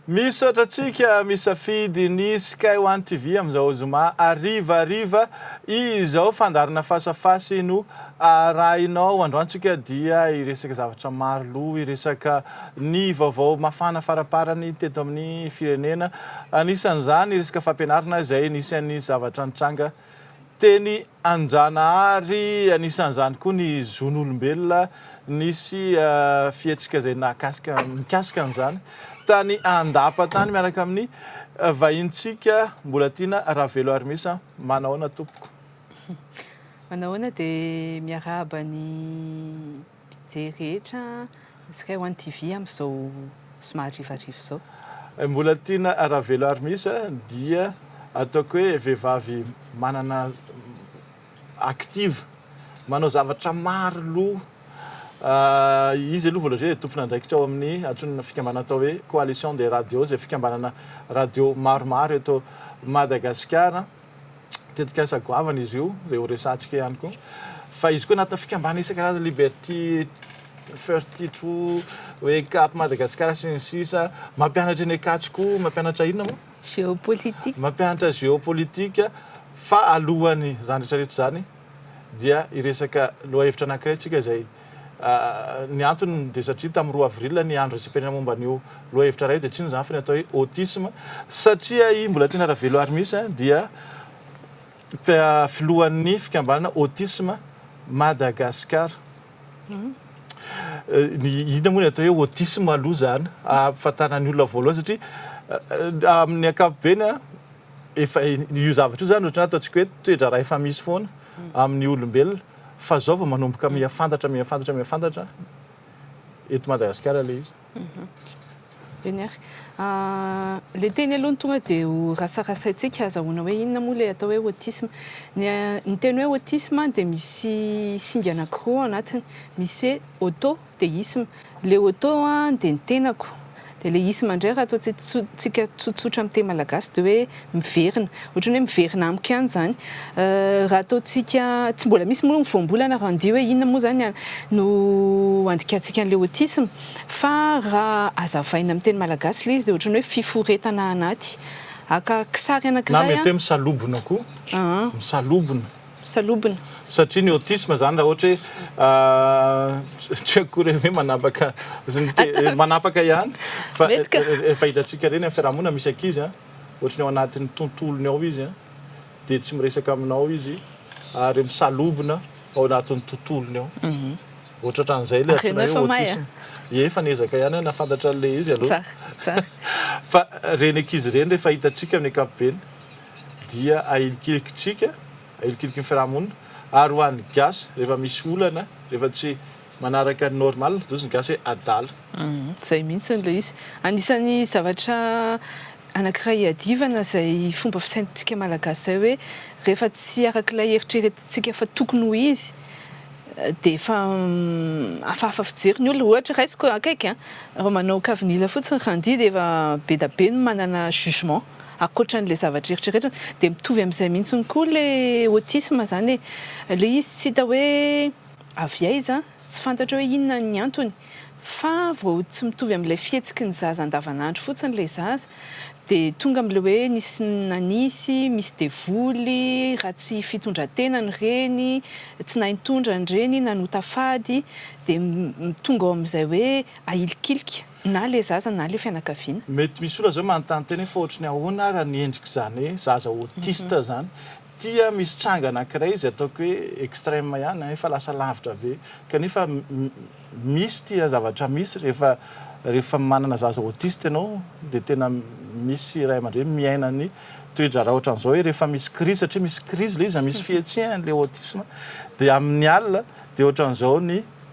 Misaotra antsika misafidy ny Sky One TV amin'izao zoma harivariva izao. Fandaharana fasafasy no arahinao. Androany tsika dia hiresaka zavatra maro loha, hiresaka ny vaovao mafana faraparany teto amin'ny firenena. Anisan'izany ny resaka fampianarana izay anisan'ny zavatra nitranga teny Anjanahary. Anisan'izany koa ny zon'olombelona, nisy fihetsika izay nahakasika mikasika an'izany tany Andapa tany miaraka amin'ny vahinintsika Mbolatiana Raveloarimisa. Manahoana tompoko? Manahoana dia miarahaba ny mpijery rehetra Sky one TV amin'izao somary harivariva izao. Mbola tiana Ravelo ary misy dia ataoko hoe vehivavy manana active manao zavatra maro loha izy aloha voalohany dia tompon'andraikitra ao amin'ny antsoina fikambanana atao hoe coalition des radios izay fikambanana radio maromaro eto Madagasikara. tetikasa goavana izy io, izay ho resahantsika ihany koa. Fa izy koa anatin'ny fikambanana isan-karazany, Liberty 32, Wake Up Madagascar sy ny sisa Mampianatra eny Ankatso koa, mampianatra inona moa? Géopolitique. Mampianatra géopolitique. Fa alohan'izany rehetra rehetra izany dia hiresaka lohahevitra anankiray isika izay. Ny antony dia satria tamin'ny roa avril ny andro isam-pirenena momba an'io lohahevitra iray io dia tsy inona izany fa ny atao hoe autisme satria i Mbolatiana Ravelo Armis dia filohan'ny fikambanana Autisme Madagascar. Inona moa ny atao hoe autisme aloha izany hahafantarana ny olona voalohany satria amin'ny ankapobeny efa io zavatra io izany ohatran'ny hoe ataontsika hoe toe-draharaha efa misy foana amin'ny olombelona. Fa zao vao manomboka mihafantatra mihafantatra mihafantatra eto Madagasikara ilay izy. Eny ary. Ilay teny aloha no tonga dia ho rasarasaintsika hazahoana hoe inona moa ilay atao hoe autisme. Ny ny teny hoe autisme dia misy singa anankiroa ao anatiny. Misy hoe auto. Teisme. Ilay auto dia ny tenako. Dia ilay isme indray raha ataontsika tsotsotra amin'ny teny malagasy dia hoe miverina. Ohatran'ny hoe miverina amiko ihany izany. Raha ataontsika, tsy mbola misy moa ny voambolana raha handihy hoe inona moa izany no handikantsika an'ilay autisme. Fa raha hazavaina amin'ny teny malagasy ilay izy dia ohatran'ny hoe fiforetana anaty. Haka kisary anankiray. Na mety hoe misalobona koa. Misalobona. salobona. Satria ny autisme zany raha ohatra hoe tsy akory hoe manapaka manapaka ihany fa efa hitantsika ireny amin'ny fiarahamonina misy ankizy an, ohatra ny ao anatin'ny tontolony ao izy an, dia tsy miresaka aminao izy ary misalobona ao anatin'ny tontolony ao, ohatra ohatran'izay ilay antsoina hoe autisme. Ie, efa niezaka ihany aho nahafantatra an'ilay izy aloha. Tsara, tsara. Fa ireny ankizy ireny rehefa hitantsika amin'ny ankapobeny. dia ahilikilikintsika, ahilikiliky ny fiarahamonina, ary ho an'ny gasy rehefa misy olana, rehefa tsy manaraka ny normal, dia hozy ny gasy hoe adala. Izay mihitsy ilay izy. Anisan'ny zavatra anankiray iadivana izay fomba fisaintsika malagasy izay hoe rehefa tsy araka ilay eritreretintsika fa tokony ho izy dia efa hafahafa fijery ny olona. Ohatra raisiko akaiky an, raha manao kavinila fotsiny randy dia efa be dia be ny manana jugement. Ankoatran'ilay zavatra eritreretina dia mitovy amin'izay mihitsy koa ilay autisme izany e! ilay izy tsy hita hoe avy aiza, tsy fantatra hoe inona ny antony fa vao tsy mitovy amin'ilay fihetsiky ny zaza andavanandro fotsiny ilay zaza dia tonga amin'ilay hoe nisy nanisy, misy devoly, ratsy fitondran-tena ny reny, tsy nahay nitondra ny reny, nanota fady dia tonga ao amin'izay hoe ahilikilika. Na le zaza na le fianakaviana. Mety misy olona zao manontany tena hoe fa ohatry ny ahoana ary ny endrik'izany hoe zaza autiste izany. Tia misy tranga anankiray izy ataoko hoe extreme ihany efa lasa lavitra be kanefa misy tia zavatra misy rehefa rehefa manana zaza autiste ianao dia tena misy ray aman-dreny miaina ny toe-draharaha ohatran'izao hoe rehefa misy crise satria misy crise ilay izy misy fihetsehany ilay autisme dia amin'ny alina dia ohatran'izao ny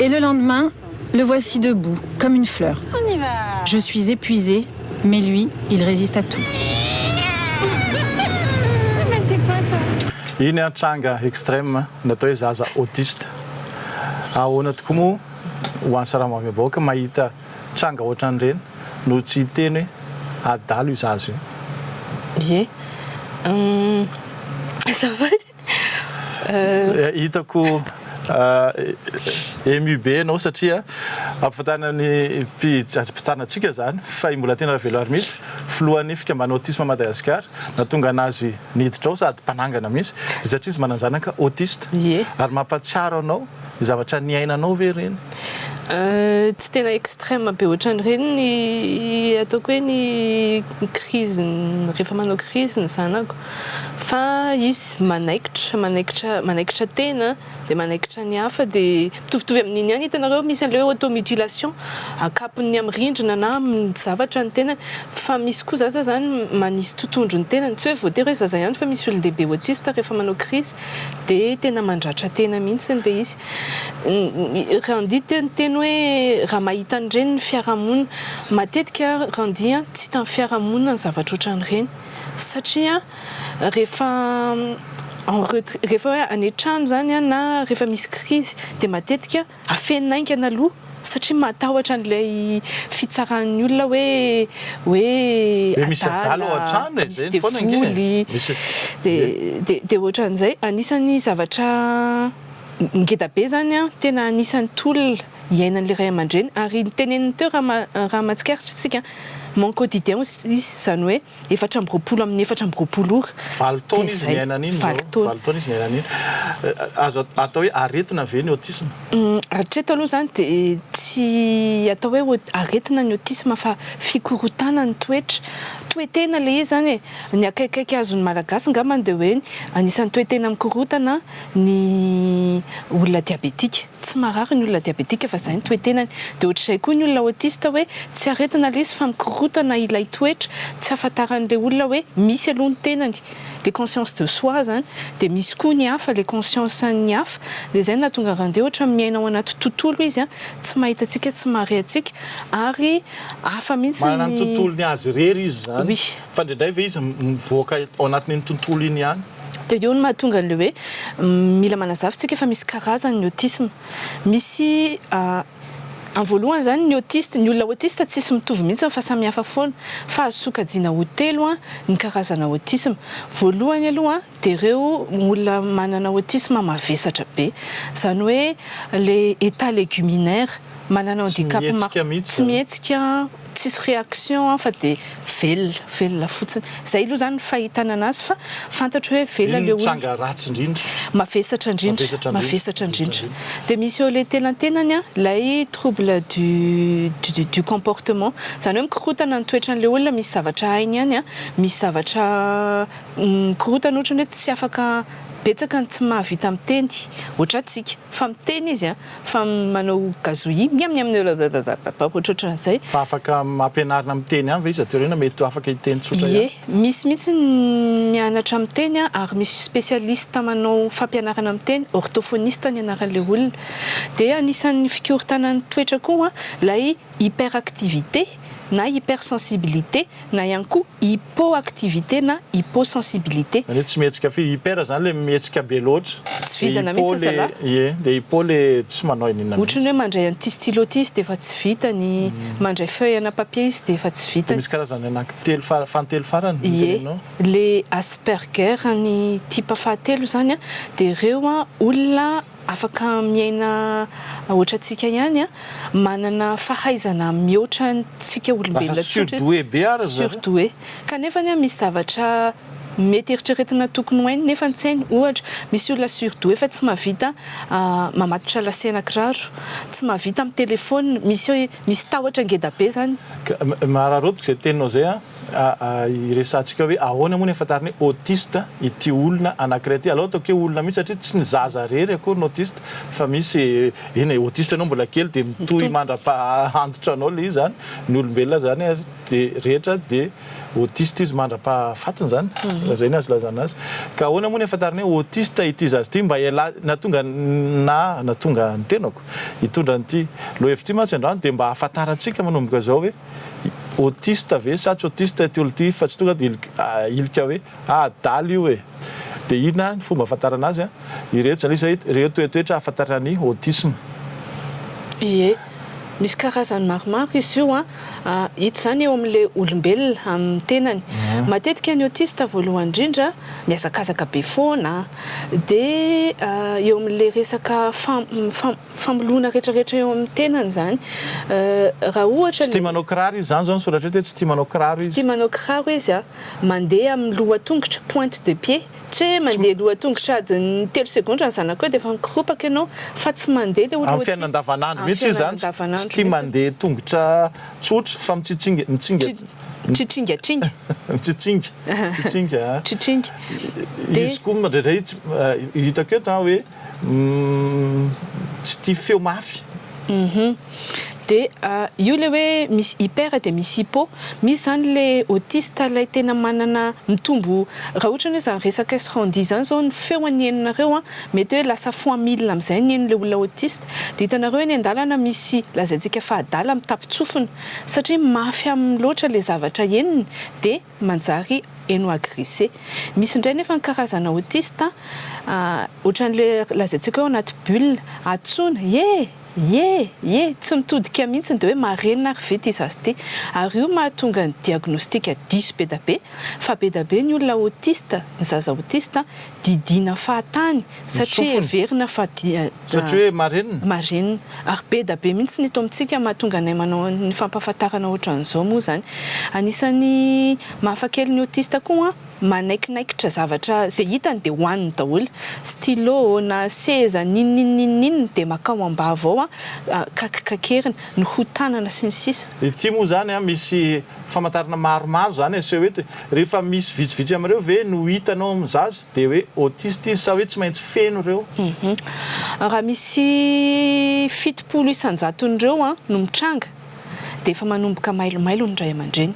Et le lendemain, le voici debout, comme une fleur. Je suis épuisée, mais lui, il résiste à tout. Iny an tranga extreme natao hoe zaza autiste. Ahoana tokoa moa ho an'ny sarambabem bahoaka mahita tranga ohatran'ireny no tsy hiteny hoe adalo io zaza io. Ye. Hum. Azafady. Hitako ému be ianao satria ampifantàna ny mpitsanantsika izany fa i Mbolatiana Raveloary mihitsy, filohan'ny fikambanana Autisme Madagascar, nahatonga an'azy niditra ao sady mpanangana mihitsy dia satria izy manana zanaka autiste. Ie. Ary mampahatsiaro anao ny zavatra niainanao ve ireny? Tsy tena extrême be ohatran'ireny ny ataoko hoe ny crise-ny, rehefa manao crise ny zanako. Fa izy manaikitra, manaikitra, manaikitra tena dia manaikitra ny hafa dia mitovitovy amin'iny ihany hitanareo misy an'le hoe auto mutilation akapony amin'ny rindrina na amin'ny zavatra ny tenany fa misy koa zaza zany manisy totondro ny tenany tsy hoe voatery hoe zaza ihany fa misy olon-dehibe autiste rehefa manao crise dia tena mandratra tena mihitsy ilay izy Randy teo niteny hoe raha mahita an'ireny ny fiarahamonina matetika Randy an tsy hita amin'ny fiarahamonina ny zavatra ohatran'ireny Satria rehefa en retrait, rehefa hoe any an-trano izany na rehefa misy krizy dia matetika afenina haingana aloha satria matahotra an'ilay fitsaran'ny olona hoe hoe adala, misy devoly, dia dia ohatran'izay. Anisan'ny zavatra ngeda be izany an, tena anisan'ny tolona. iainan'ilay ray aman-dreny ary noteneniny teo raha raha mahatsikaritra isika mon quotidien aussi izany hoe efatra amby roapolo amin'ny efatra amby roapolo ora valo taona izy niaina an'iny valo taona valo taona izy niaina an'iny azo atao hoe aretina ve ny autisme? Hatreto aloha izany dia tsy atao hoe ho aretina ny autisme fa fikorontana ny toetra toe-tena ilay izy izany e ny akaikikaiky azon'ny malagasy angambany dia hoe anisan'ny toe-tena mikorontana ny olona diabetika Tsy marary ny olona diabetika fa izay ny toe-tenany. Dia ohatr'izay koa ny olona autiste hoe tsy aretina ilay izy fa mikorontana ilay toetra, tsy ahafantaran'ilay olona hoe misy aloha ny tenany, le conscience de soi izany, dia misy koa ny hafa, le conscience-n'ny hafa, dia izay no nahatonga Rande ohatra miaina ao anaty tontolo izy tsy mahita antsika, tsy mahare antsika ary hafa mihitsy ny. Manana ny tontolony azy irery izy izany, fa indraindray ve izy mivoaka ao anatin'iny tontolo iny ihany? Dia io no mahatonga an'ilay hoe mila manazava isika fa misy karazany ny autisme. Misy amin'ny voalohany izany ny autiste, ny olona autiste tsisy mitovy mihitsy fa samy hafa foana. Fa azo sokajiana ho telo ny karazana autisme. Voalohany aloha dia ireo olona manana autisme mavesatra be. Izany hoe ilay état léguminaire, manana handicap, tsy mihetsika. tsisy réaction an fa dia velona velona fotsiny zay aloha zany ny fahitana anazy fa fantatro hoe velona le olona mavesatra indrindra mavesatra indrindra dia misy eo le tenantenany an ilay trouble du du du comportement zany hoe mikorotana ny toetrany le olona misy zavatra hainy ihany an misy zavatra mikorotana ohatrany hoe tsy afaka betsaka ny tsy mahavita miteny ohatrantsika Fa miteny izy a! Fa manao gazouille miam miam blablabla ohatrohatran'izay. Fa afaka ampianarina miteny ihany ve izy aty aoriana? Mety afaka hiteny tsotra ihany? Ie, misy mihitsy ny mianatra miteny a, ary misy spécialiste manao fampianarana miteny, orthophoniste ny anaran'ilay olona. Dia anisan'ny fikorontanan'ny toetra koa ilay hyperactivité. na hypersensibilité na ihany koa hypoactivité na hyposensibilité. Zany hoe tsy mihetsika firy. Hyper zany le mihetsika be loatra. Tsy vizana mihitsy Hypo le zalahy. ie, dia hypo le tsy manao inona mihitsy. Ohatran'ny hoe mandray an'ity stylo ity izy dia efa tsy vitany, mandray feuille ana papier izy dia efa tsy Dia vitany. misy karazany anaky telo fara, fahantelo farany no Ie, tenenao? le Asperger ny type fahatelo zany dia ireo olona Afaka miaina hoatrantsika ihany, manana fahaizana mihoatra antsika olombelona tsotra izy, surdoué. Kanefa misy zavatra mety eritreretina tokony ho hainy nefa tsy hainy. Ohatra, misy olona surdoué fa tsy mahavita mamatotra lacet ana kiraro, tsy mahavita mitelefona, misy tahotra ngeda be izany. Ka, mahararaoty izay teninao izay an! Hiresahantsika hoe ahoana moa ny ahafantarana hoe autiste ity olona anankiray ity. Alao ataoko hoe olona mihitsy satria tsy ny zaza irery akory no autiste fa misy, eny e, autiste ianao mbola kely dia mitohy mandra-paha-antitra anao ilay izy izany, ny olombelona izany ary dia rehetra dia autiste izy mandra-pahafatiny izany, raha izay ny azo ilazana azy. Ka ahoana moa ny ahafantarana hoe autiste ity zaza ity? Mba ialahy, nahatonga na nahatonga ny tenako hitondra an'ity lohahevitra ity mantsy androany dia mba ahafantarantsika manomboka izao hoe, autiste ve sa tsy autiste ity olona ity fa tsy tonga dia hilika hoe adala io e! Dia inona ny fomba ahafantarana azy? Ireto izany izy ireto ireo toetoetra ahafantarana ny autisme. Ie, misy karazany maromaro izy io an! Hita izany eo amin'ilay olombelona amin'ny tenany. Matetika ny autiste voalohany indrindra mihazakazaka be foana dia eo amin'ilay resaka fam-, fam-. famoloana retraretra eo amin'ny tenany izany raha ohatra Tsy tia manao kiraro izy, izany izao ny soratra eto hoe tsy tia manao kiraro izy. Tsy tia manao kiraro izy a, mandeha amin'ny lohatongotra, pointe de pied, tsy hoe mandeha lohatongotra adin'ny telo segondra ny zanako eo dia efa mikoropaka ianao fa tsy mandeha ilay olona Amin'ny fiainana autiste, andavanandro amin'ny mihitsy izy fiainana izany, tsy tsy andavanandro tia mihitsy. mandeha tongotra tsotra fa mitsitsinga, mitsinga, Tsi- tsitringatringa. mitsitsinga, mitsitsinga a. Tsitringa. Dia- Izy koa mandrendrehitsy, hitako eto an hoe. Umm tsy tia feo mafy. Uhum. De io le hoe misy hyper de misy hypo, misy zany le autiste lay tena manana mitombo raha ohatra ny hoe zany resaka srandi zany zao ny feo any henonareo an mety hoe lasa fois mille amzay ny heno le olona autiste de hitanareo eny andalana misy lazaintsika fa adala mitapitsofina satria mafy aminy loatra le zavatra henony de manjary eno agressé. Misy indray nefa ny karazana autiste ohatran'ilay lazaintsika hoe ao anaty bulle, antsoina ye! ye! ye! tsy mitodika mihitsy dia hoe marenina ary ve ity zaza ity? ary io mahatonga ny diagnostic diso be da be fa be da be ny olona autiste, ny zaza autiste, didiana fahatany satria heverina fa dia satria hoe marenina? marenina ary be da be mihitsy ny eto amintsika mahatonga anay manao ny fampahafantarana ohatran'izao moa izany anisan'ny mahafa kely ny autiste koa an manaikinaikitra zavatra izay hitany dia hohaniny daholo stylo na seza n'inon'inon'inon'inona dia makao ambava ao an kakikakeriny ny hoho tanana sy ny sisa. Ity moa izany an misy famantarana maromaro zany aseho hoe eto e! rehefa misy vitsivitsy amin'ireo ve no hitanao amin'ny zaza dia hoe autiste izy sa hoe tsy maintsy feno ireo? Raha misy fitopolo isan-jaton'ireo no mitranga dia efa manomboka mailomailo ny ray aman-dreny.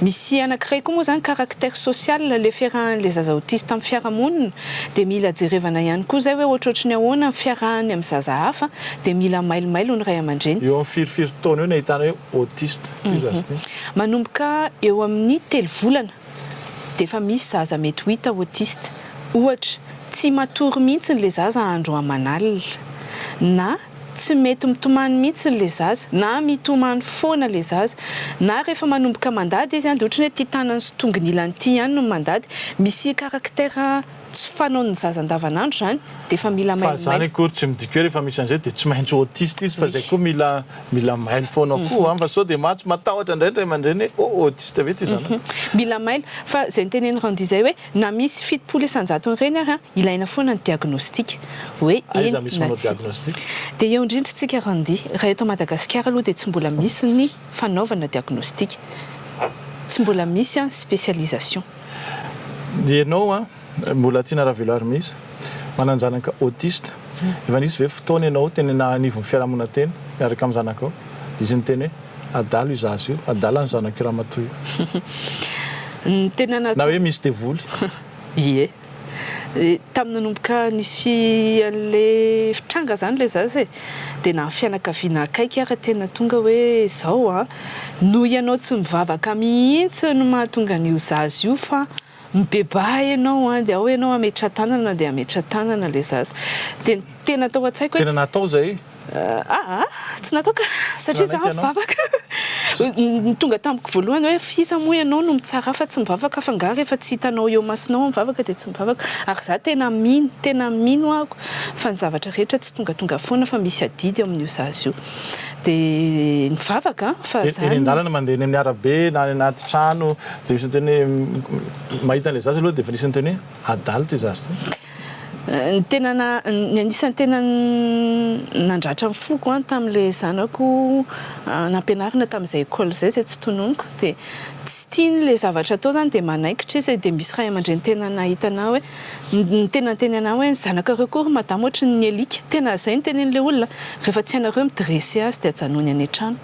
Misy anankiray koa moa zany caractère social le fiarahan'ilay zaza autiste amin'ny fiarahamonina dia mila jerevana ihany koa izay hoe ohatrohatry ny ahoana ny fiarahany amin'ny zaza hafa dia mila mailomailo ny ray aman-dreny. Eo amin'ny firifiry taona eo no ahitana hoe autiste ity zaza ity. Manomboka eo amin'ny telo volana dia efa misy zaza mety ho hita autiste. Ohatra, tsy matory mihitsy ilay zaza andro aman'alina, na tsy mety mitomany mihitsy ilay zaza, na mitomany foana ilay zaza, na rehefa manomboka mandady izy dia ohatran'ny hoe ity tanany sy tongony ilany ity ihany no mandady, misy caractère. Tsy fanaon'ny zaza andavanandro izany dia efa mila mailo mailo. Fa izany akory tsy midika hoe rehefa misy an'izay dia tsy maintsy autiste izy fa izay koa mila mila mailo foana koa an fa sao dia maty matahotra indray ny ray aman-dreny hoe oh autiste ve ity zanako. Mila mailo fa izay notenen'i Randy izay hoe na misy fitopolo isan-jaton'ireny ary an ilaina foana ny diagnostic hoe eny na tsia. Dia eo indrindra isika Randy raha eto Madagasikara aloha dia tsy mbola misy ny fanaovana diagnostic. Tsy mbola misy an specialisation. Ianao an, mbola tiana ravelo ary misy manan-janaka autiste, efa nisy ve fotoana ianao teny anivon'ny fiarahamonina teny miaraka amin'ny zanakao? Izy niteny hoe, adala io zaza io, adala ny zanak'io ramatoa io. Na hoe misy devoly. Ie. Tamin'ny nanomboka nisy an'ilay fitranga izany ilay zaza e, dia na ny fianakaviana akaiky ary tena tonga hoe izao an, noho ianao tsy mivavaka mihitsy no mahatonga an'io zaza io fa mibebaha ianao an, dia ao ianao hametra-tanana dia hametra-tanana ilay zaza. Dia ny tena tao an-tsaiko hoe. Tena natao izay. Aa tsy nataoko satria za mivavaka ny tonga tamiko voalohany hoe f'iza moa ianao no mitsara fa tsy mivavaka fa nga rehefa tsy hitanao eo masonao mivavaka dia tsy mivavaka ary za tena mino tena mino ako fa ny zavatra rehetra tsy tongatonga foana fa misy adidy eo amin'io zaza io dia mivavaka fa za eny an-dalana mandeha eny amin'ny arabe na any anaty trano dia misy miteny hoe mahita an'ilay zaza aloha dia efa nisy niteny hoe adala ity zaza ity. Ny tena na, ny anisan'ny tena nandratra ny foko an tamin'ilay zanako nampianarina tamin'izay école izay, izay tsy tononiko dia tsy tiany ilay zavatra atao izany dia manaikitra izy dia misy ray aman-dreny tena nahita anah hoe ny tena niteny anah hoe ny zanakareo koa ry madama ohatran'ny alika, tena izay no tenenin'ilay olona, rehefa tsy hainareo mi-dresser azy dia ajanony any an-trano.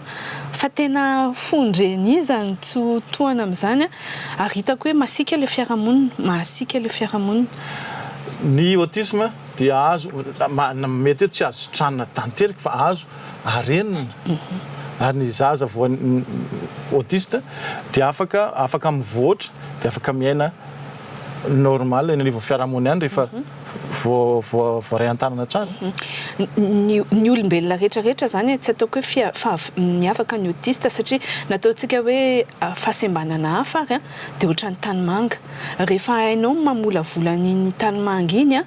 Fa tena fondreny iza no tsy ho tohana amin'izany an! Ary hitako hoe masiaka ilay fiarahamonina, masiaka ilay fiarahamonina. Ny autisme dia azo, mety hoe tsy azo sitranina tanteraka fa azo arenina. Ary ny zaza voan'ny autiste dia afaka, afaka mivoatra, dia afaka miaina normal eny anivon'ny fiarahamonina ihany rehefa. voaray an-tanana tsara. Ny olombelona rehetra rehetra izany e, tsy ataoko hoe miavaka ny autiste satria na ataontsika hoe fahasembanana hafa ary dia ohatran'ny tanimanga. Rehefa hainao ny mamolavola an'iny tanimanga iny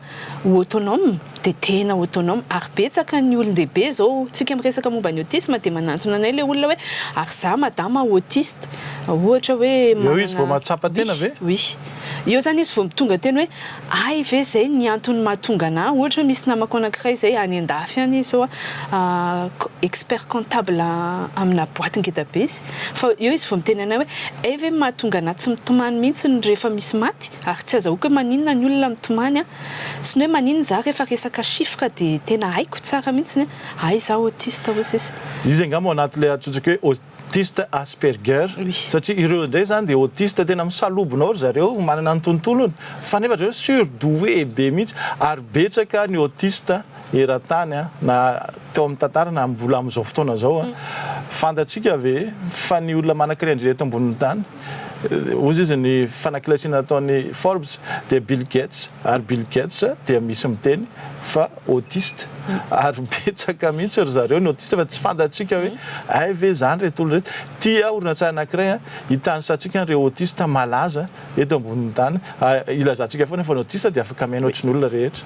ho autonome dia tena autonome. Ary betsaka ny olon-dehibe izao, isika miresaka momba ny autisme dia manantona anay ilay olona hoe ary za madama autiste ohatra hoe manana. Eo izy vao mahatsapa tena ve? Oui. Eo izany izy vao tonga teny hoe. Hay ve zay ny antony mahatonga anah ohatra misy namako anakiray zay any andafy any izy zao an expert comptable amina boite ngeda be izy fa eo izy vao miteny anay hoe hay ve ny mahatonga anah tsy mitomany mihitsy ny rehefa misy maty ary tsy azahoako hoe maninona ny olona mitomany an sy ny hoe maninona zah rehefa resaka chiffre dia tena haiko tsara mihitsy ny hay zah autiste hoy sisa. Izy angamba ao anaty ilay antsointsika hoe autiste asperger satria ireo indray zany dia autiste tena misalobona ao ry zareo manana ny tontolony fa nefa ry zareo surdoué be mihitsy ary betsaka ny autiste eran-tany a na teo amin'ny tantara na mbola amin'izao fotoana izao a fantatsika ve fa ny olona manankiray indrindra eto ambonin'ny tany Hoy izy, Ny fanaklesiana nataon'i Forbes dia Bill Gates, ary Bill Gates dia misy miteny fa autiste, ary betsaka mihitsy ry zareo ny autiste fa tsy fantatsika hoe hay ve izany ireto olona ireto. Tia horonantsary anankiray hitanisantsika an'ireo autiste malaza eto ambonin'ny tany, hilazantsika foana fa ny autiste dia afaka mihaino ohatry ny olona rehetra.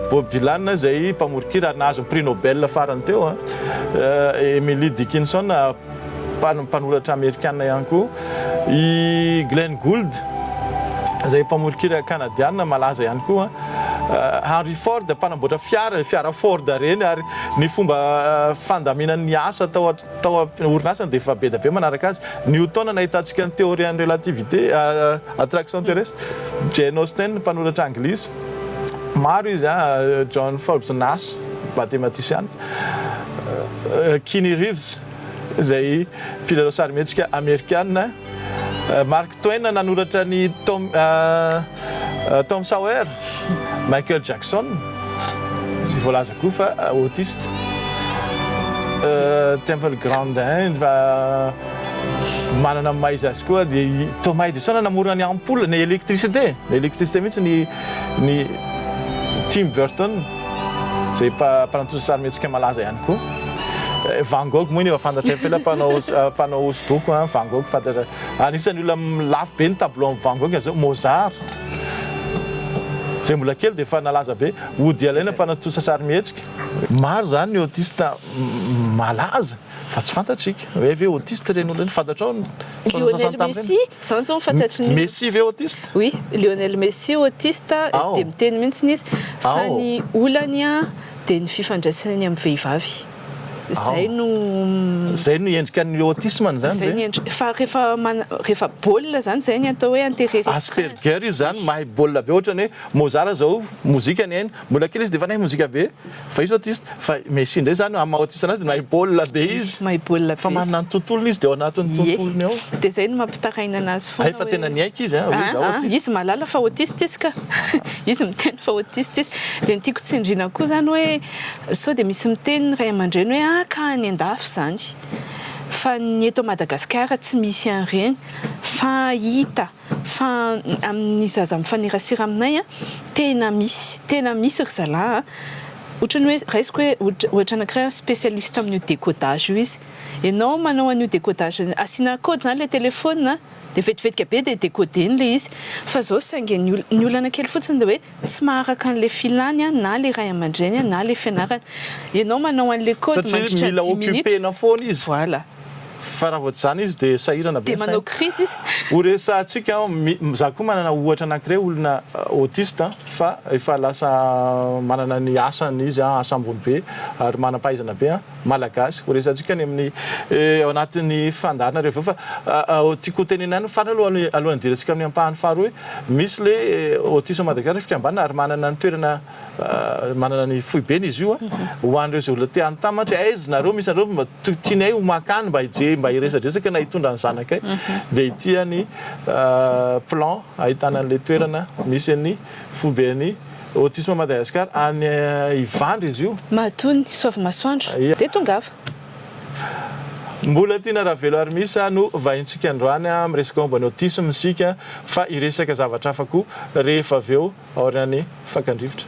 Bob Dylan izay mpamoron-kira ary nahazo ny Prix Nobel farany teo. Emily Dickinson, mpanoratra amerikana ihany koa. I Glenn Gould izay mpamoron-kira kanadiana malaza ihany koa. Henry Ford, mpanamboatra fiara, ilay fiara Ford ireny. Ary ny fomba fandaminany ny asa tao tao am-orinasany dia efa be dia be manaraka azy. Newton, nahitantsika ny théorie an'ny relativité, attraction terrestre. Jane Austen, mpanoratra anglisy. Maro izy an, John Forbes Nash, matematisiana, Keanu Reeves, izay mpilalao sarimihetsika amerikana, Mark Twain nanoratra ny Tom Tom Sawyer, Michael Jackson, izay voalaza koa fa autiste, Temple Grandin, Manana ny maha izy azy koa dia i Thomas Edison namorona ny ampoule, ny électricité, ny électricité mihitsy ny ny Tim Burton izay mpa mpanontosa sarimihetsika malaza ihany koa. Van Gogh moa iny efa fantatray fa ilay mpanao mpanao hosodoko an, Van Gogh fantatra anisan'ny olona lafo be ny tableau an'i Van Gogh izao Mozart izay mbola kely dia efa nalaza be, Woody Allen mpanontosa sarimihetsika. Maro izany ny autiste malaza. Fa tsy fantatsika. Hoe ve autiste ireny olona ireny? Fantatrao ny sasantsasany tamin'ireny? Lionel Messi, izany izao no fantatry ny olona. Messi ve autiste? Oui, Lionel Messi autiste, dia miteny mihitsy izy fa ny olany dia ny fifandraisany amin'ny vehivavy. Izay no. Izay no endrika ny autisme-ny izany ve? Izay ny endrika. Fa rehefa rehefa baolina izany, izay ny atao hoe intérêt restreint. Asperger izy izany, mahay baolina be ohatrany hoe Mozart izao mozika ny ainy. Mbola kely izy dia efa nahay mozika be, fa izy autiste, fa i Messi indray izany amin'ny maha autiste anazy dia mahay baolina be izy, Mahay baolina be fa izy. manana ny tontolony izy dia ao anatin'ny Ie. tontolony ao. Dia izay no mampitaraina anazy foana Hay fa hoe- tena niaiky izy, hoe izaho Ah, ah, autiste. izy mahalala fa autiste izy ka. Izy miteny fa autiste izy. Dia ny tiako tsindriana koa izany hoe sao dia misy miteny ny ray aman-dreny hoe ah ka any an-dafy izany. Fa ny eto Madagasikara tsy misy an'ireny, fa hita Fa amin'ny zaza mifanerasera aminay tena misy, tena misy ry zalahy a! Ohatran'ny hoe raisiko hoe ohatra anankiray spécialiste amin'io décodage io izy. Ianao manao an'io décodage, asiana code izany ilay téléphone dia vetivetika be dia décoder-ny ilay izy. Fa izao saingy ny ny olana kely fotsiny dia hoe tsy maharaka an'ilay filany na ilay ray aman-dreny na ilay fianarana. Ianao manao an'ilay code mandritra ny dimy minitra. Satria mila occuper-na foana izy. Voilà. Fa raha vao tsy izany izy dia sahirana be ny sainy. Dia manao crise izy. Ho resahantsika, izaho koa manana ohatra anankiray olona autiste fa efa lasa manana ny asany izy, asa ambony be ary manam-pahaizana be. Malagasy. Ho resahantsika any amin'ny ao anatin'ny fandaharana rehefa avy eo fa tiako hotenenina ihany ny farany aloha alohan'ny hidirantsika amin'ny ampahany faharoa hoe misy ilay Autisme Madagascar ny fikambanana ary manana ny toerana manana ny foibeny izy io ho an'ireo izay olona te hanotambatra hoe aiza nareo misy anareo mba tianay ho mankany mba hijery mba hiresadresaka na hitondra ny zanakay dia ity any plan ahitana an'ilay toerana misy an'ny Foiben'ny Autisme Madagascar any Ivandry izy io. Matoa ny saovy masoandro dia tongava. Mbolatiana Raveloarimisa no vahintsika androany amin'ny resaka momba ny autisme isika fa hiresaka zavatra hafa koa rehefa avy eo aorian'ny fakan-drivotra.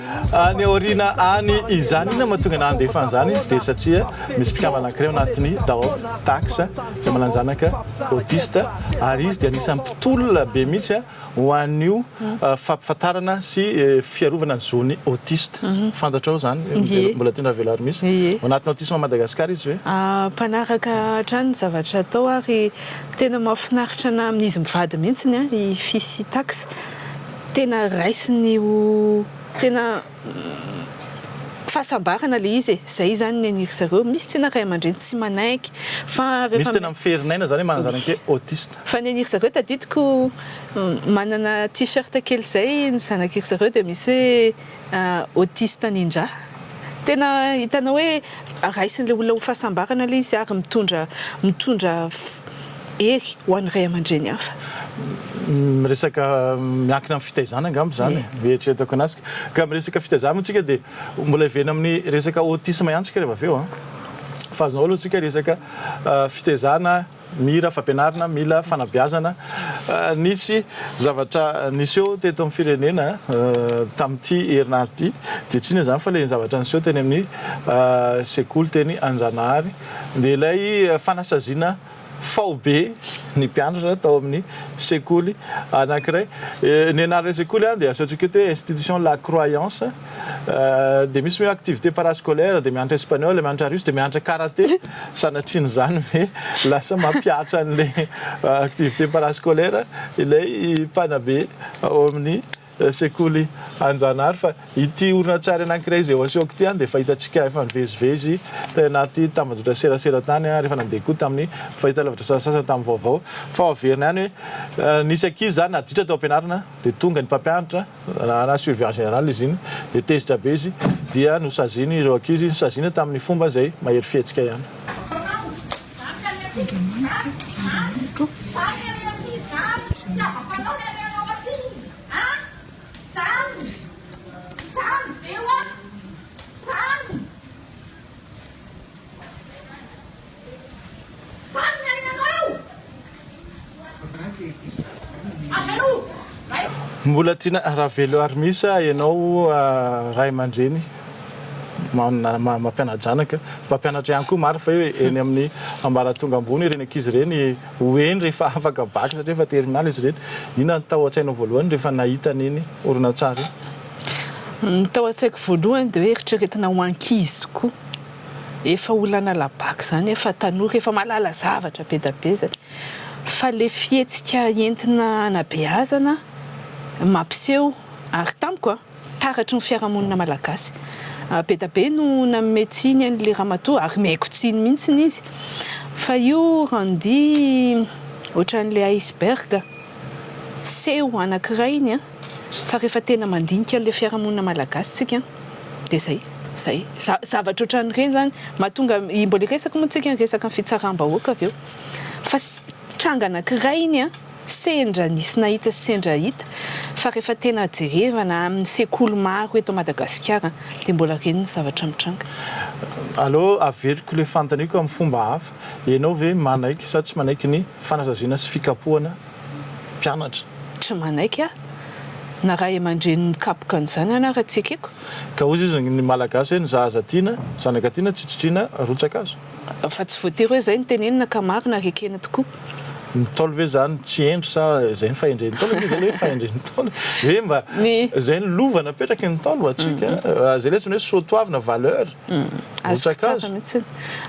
Any aoriana any izany, inona no mahatonga ny handefa an'izany izy? Dia satria misy mpikambana anankiray ao anatin'ny Daop, Tax, izay manana zanaka autiste, ary izy dia anisan'ny mpitolona be mihitsy ho an'io fampahafantarana sy fiarovana ny zon'ny autiste. Fantatrao izany? Mbola tianao avela ary misy? Ao anatin'ny Autisme Madagascar izy ve? Mpanaraka hatrany ny zavatra atao ary tena mahafinaritra na amin'izy mivady mihitsy ny ahy i Fils Tax. Tena raisiny ho tena fahasambarana ilay izy e! Izay izany ny an'iry zareo. Misy tsinona ray aman-dreny tsy manaiky fa rehefa. Misy tena mifery n'aina izany hoe manana zanak'e autiste. Fa ny an'iry zareo tadidiko manana t-shirt kely izay ny zanak'iry zareo dia misy hoe. autiste nindra. Tena hitanao hoe raisin'ilay olona ho fahasambarana ilay izy ary mitondra mitondra hery ho an'ny ray aman-dreny hafa. Miresaka miankina amin'ny fitaizana angamba izany e, eritreretako anazy. Ka miresaka fitaizana moa isika dia mbola hiverina amin'ny resaka autisme ihany isika rehefa avy eo an! Fa azonao aloha isika resaka fitaizana. Mira fampianarina, mila fanabeazana. Nisy zavatra niseho teto amin'ny firenena tamin'ity herinandro ity, dia tsy inona izany fa ilay zavatra niseho teny amin'ny sekoly teny Anjanahary, dia ilay fanasaziana faobe ny mpianatra tao amin'ny sekoly anankiray. Ny anaran'ilay sekoly dia asehontsika eto hoe Institution La Croyance. dia misy hoe activité parascolaire dia mianatra espagnol mianatra russe dia mianatra karaté sanatrian' izany ve lasa mampihatra an'le activité parascolaire ilay mpanabe ao amin'ny sekoly anjanahary fa ity horonantsary anankiray izay eo asehoko ity dia efa hitantsika efa nivezivezy tany anaty tambajotra serasera tany ary efa nandeha koa tamin'ny fahitalavitra sasasasany tamin'ny vaovao fa ho averina ihany hoe nisy ankizy izany naditra tao am-pianarana dia tonga ny mpampianatra na surveillance générale izy iny, dia tezitra be izy dia nosaziany ireo ankizy, nosaziana tamin'ny fomba izay mahery fihetsika ihany. Vanona ianao! Aza aloha! Mbola tiana ravelo ary misy ah ianao ray aman-dreny mampiana-janaka, mpampianatra ihany koa marina fa hoe eny amin'ny ambaratonga ambony ireny ankizy ireny ho eny rehefa afaka bac satria efa terminale izy ireny. Inona no tao an-tsainao voalohany rehefa nahita an'iny horonantsary iny? Ny tao an-tsaiko voalohany dia hoe eritreretina ho ankizy koa. efa olana labac zany efa tanora efa mahalala zavatra be da be zay fa le fihetsika entina anabeazana mampiseho ary tamiko a taratry ny fiarahamonina malagasy be da be no nanome tsiny an'le ramatoa ary mihaiko tsiny mintsiny izy fa io randy otran'le iceberg seho anakirainy a. Fa rehefa tena mandinika an'ilay fiarahamonina malagasy tsika dia zay, zay. Zavatra ohatran'ireny zany mahatonga, mbola hiresaka moa tsika ny resaka ny fitsaram-bahoaka avy eo. Fa tranga anankiray iny an, sendra nisy nahita sy sendra hita, fa rehefa tena jerevana amin'ny sekoly maro eto Madagasikara dia mbola reny ny zavatra mitranga. Aleo averiko ilay fanontaniako amin'ny fomba hafa, ianao ve manaiky sa tsy manaiky ny fanasaziana sy fikapohana mpianatra. Tsy manaiky aho na ray aman-dreny mikapoka an'izany aho na raha tsy ekeko. Ka hoy izy, ny Malagasy hoe ny zaza tiana, zanaka tiana tsy tsitriana rotsaka azo. Fa tsy voatery hoe izay no tenenina ka marina ary ekena tokoa. Ny Ntaolo ve izany tsy hendry sa izay ny fahendren'ny Ntaolo? Ve izay ilay hoe fahendren'ny Ntaolo? Ve mba izay ny lova napetraky ny Ntaolo ho antsika? Izay ilay antsoina hoe soatoavina, valeur, rotsaka azo.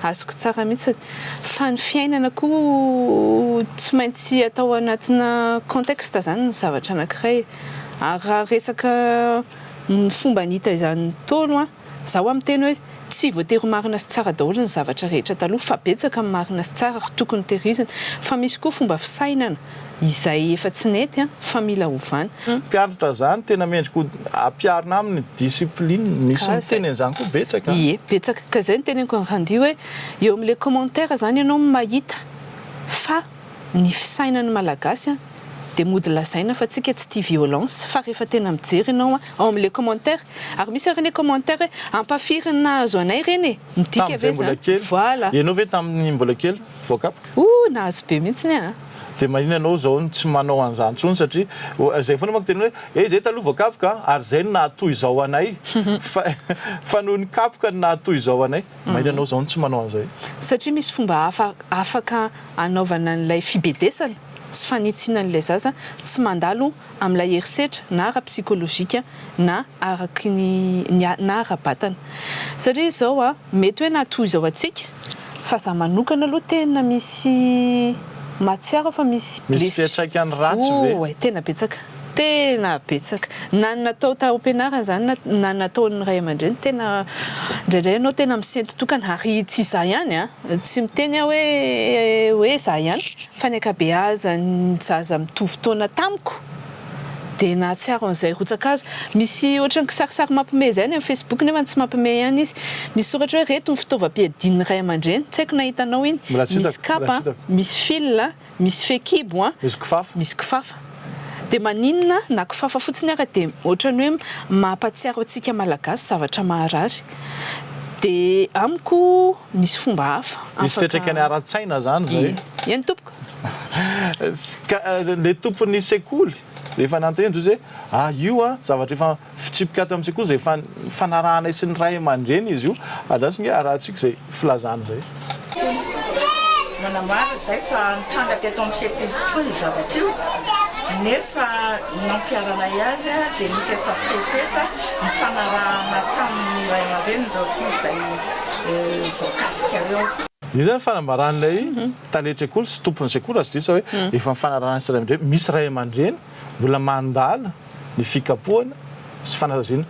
Azoko tsara mihitsy. Fa ny fiainana koa tsy maintsy atao anatina contexte izany ny zavatra anankiray. Ary raha resaka ny fomba nita izany Ntaolo an, izaho aho miteny hoe tsy voatery ho marina sy tsara daholo ny zavatra rehetra taloha fa betsaka ny marina sy tsara ary tokony tehirizina. Fa misy koa fomba fisainana. izay efa tsy nety fa mila ovana. Mpianatra izany tena mendrika ho ampiharina aminy discipline, misy miteny an'izany koa betsaka an! Ie, betsaka, ka izay no teneniko an'i Randy hoe eo amin'ilay commentaire izany ianao no mahita fa ny fisainan'ny Malagasy an dia mody lazaina fa tsika tsy tia violence fa rehefa tena mijery ianao an ao amin'ilay commentaire ary misy ary anie commentaire hoe ampahafirin'ny nahazo anay ireny e! midika ve izany? Tamin'izay mbola kely, voilà! Ianao ve tamin'ny mbola kely? voakapoka. Ooh nahazo be mihitsy ny ahy. Dia manina ianao izao no tsy manao an'izany intsony satria izay foana manko tena hoe eh izay taloha voakapoka an, ary izay no nahatoy izao anay fa fa noho ny kapoka no nahatoy izao anay. Manina ianao izao no tsy manao an'izay. Satria misy fomba hafa afaka anaovana an'ilay fibedesana sy fanitsiana an'ilay zaza tsy mandalo amin'ilay herisetra na ara-psikolojika na araky ny ny na ara-batana satria izao a mety hoe na toy izao antsika fa za manokana aloha tena misy mahatsiaro aho fa misy Misy blessure fiatraikany ratsy ve? oh tena betsaka tena betsaka na ny natao tao am-pianarana izany na na ny nataon'ny ray aman-dreny tena indraindray ianao tena misento tokana ary tsy za ihany a tsy miteny aho hoe hoe za ihany Fa ny ankabeazan'ny zaza mitovy taona tamiko dia nahatsiaro an'izay rotsa-kazo. Misy ohatran'ny kisarisary mampiomehy izay any amin'ny Facebook nefa tsy mampiomehy ihany izy. Misy soratra hoe reto ny fitaovam-piadian'ny ray aman-dreny. Tsy haiko na hitanao iny. Mbola tsy hitako. Misy kapa, misy fil, misy fehikibo, Misy kifafa. misy kifafa. Dia maninona na kifafa fotsiny ara dia ohatran'ny hoe mampahatsiaro antsika Malagasy zavatra maharary. Dia amiko. Misy fomba hafa afaka. Misy fiatraikany ara-tsaina zany zay. Eny tompoko. Ka le tompon'ny sekoly rehefa nanontaniana ny Jozy hoe ah io an zavatra efa fitsipika ato amin'ny sekoly zay efa fanarahanay sy ny ray aman-dreny izy io andraso nge arahantsika zay filazana zay. Nanambara izay fa nitranga teto amin'ny sekoly tokoa io zavatra io nefa ny nampiharanay azy dia nisy efa fepetra nifanarahana tamin'ny ray aman-drenin'ireo ankizy izay voakasikareo. Io zany fanambaran'ilay tale trekoly sy tompon'ny sekoly raha tsy diso za hoe efa mifanarahana sy ray aman-dreny, misy ray aman-dreny mbola mandala ny fikapohana sy fanaraziana.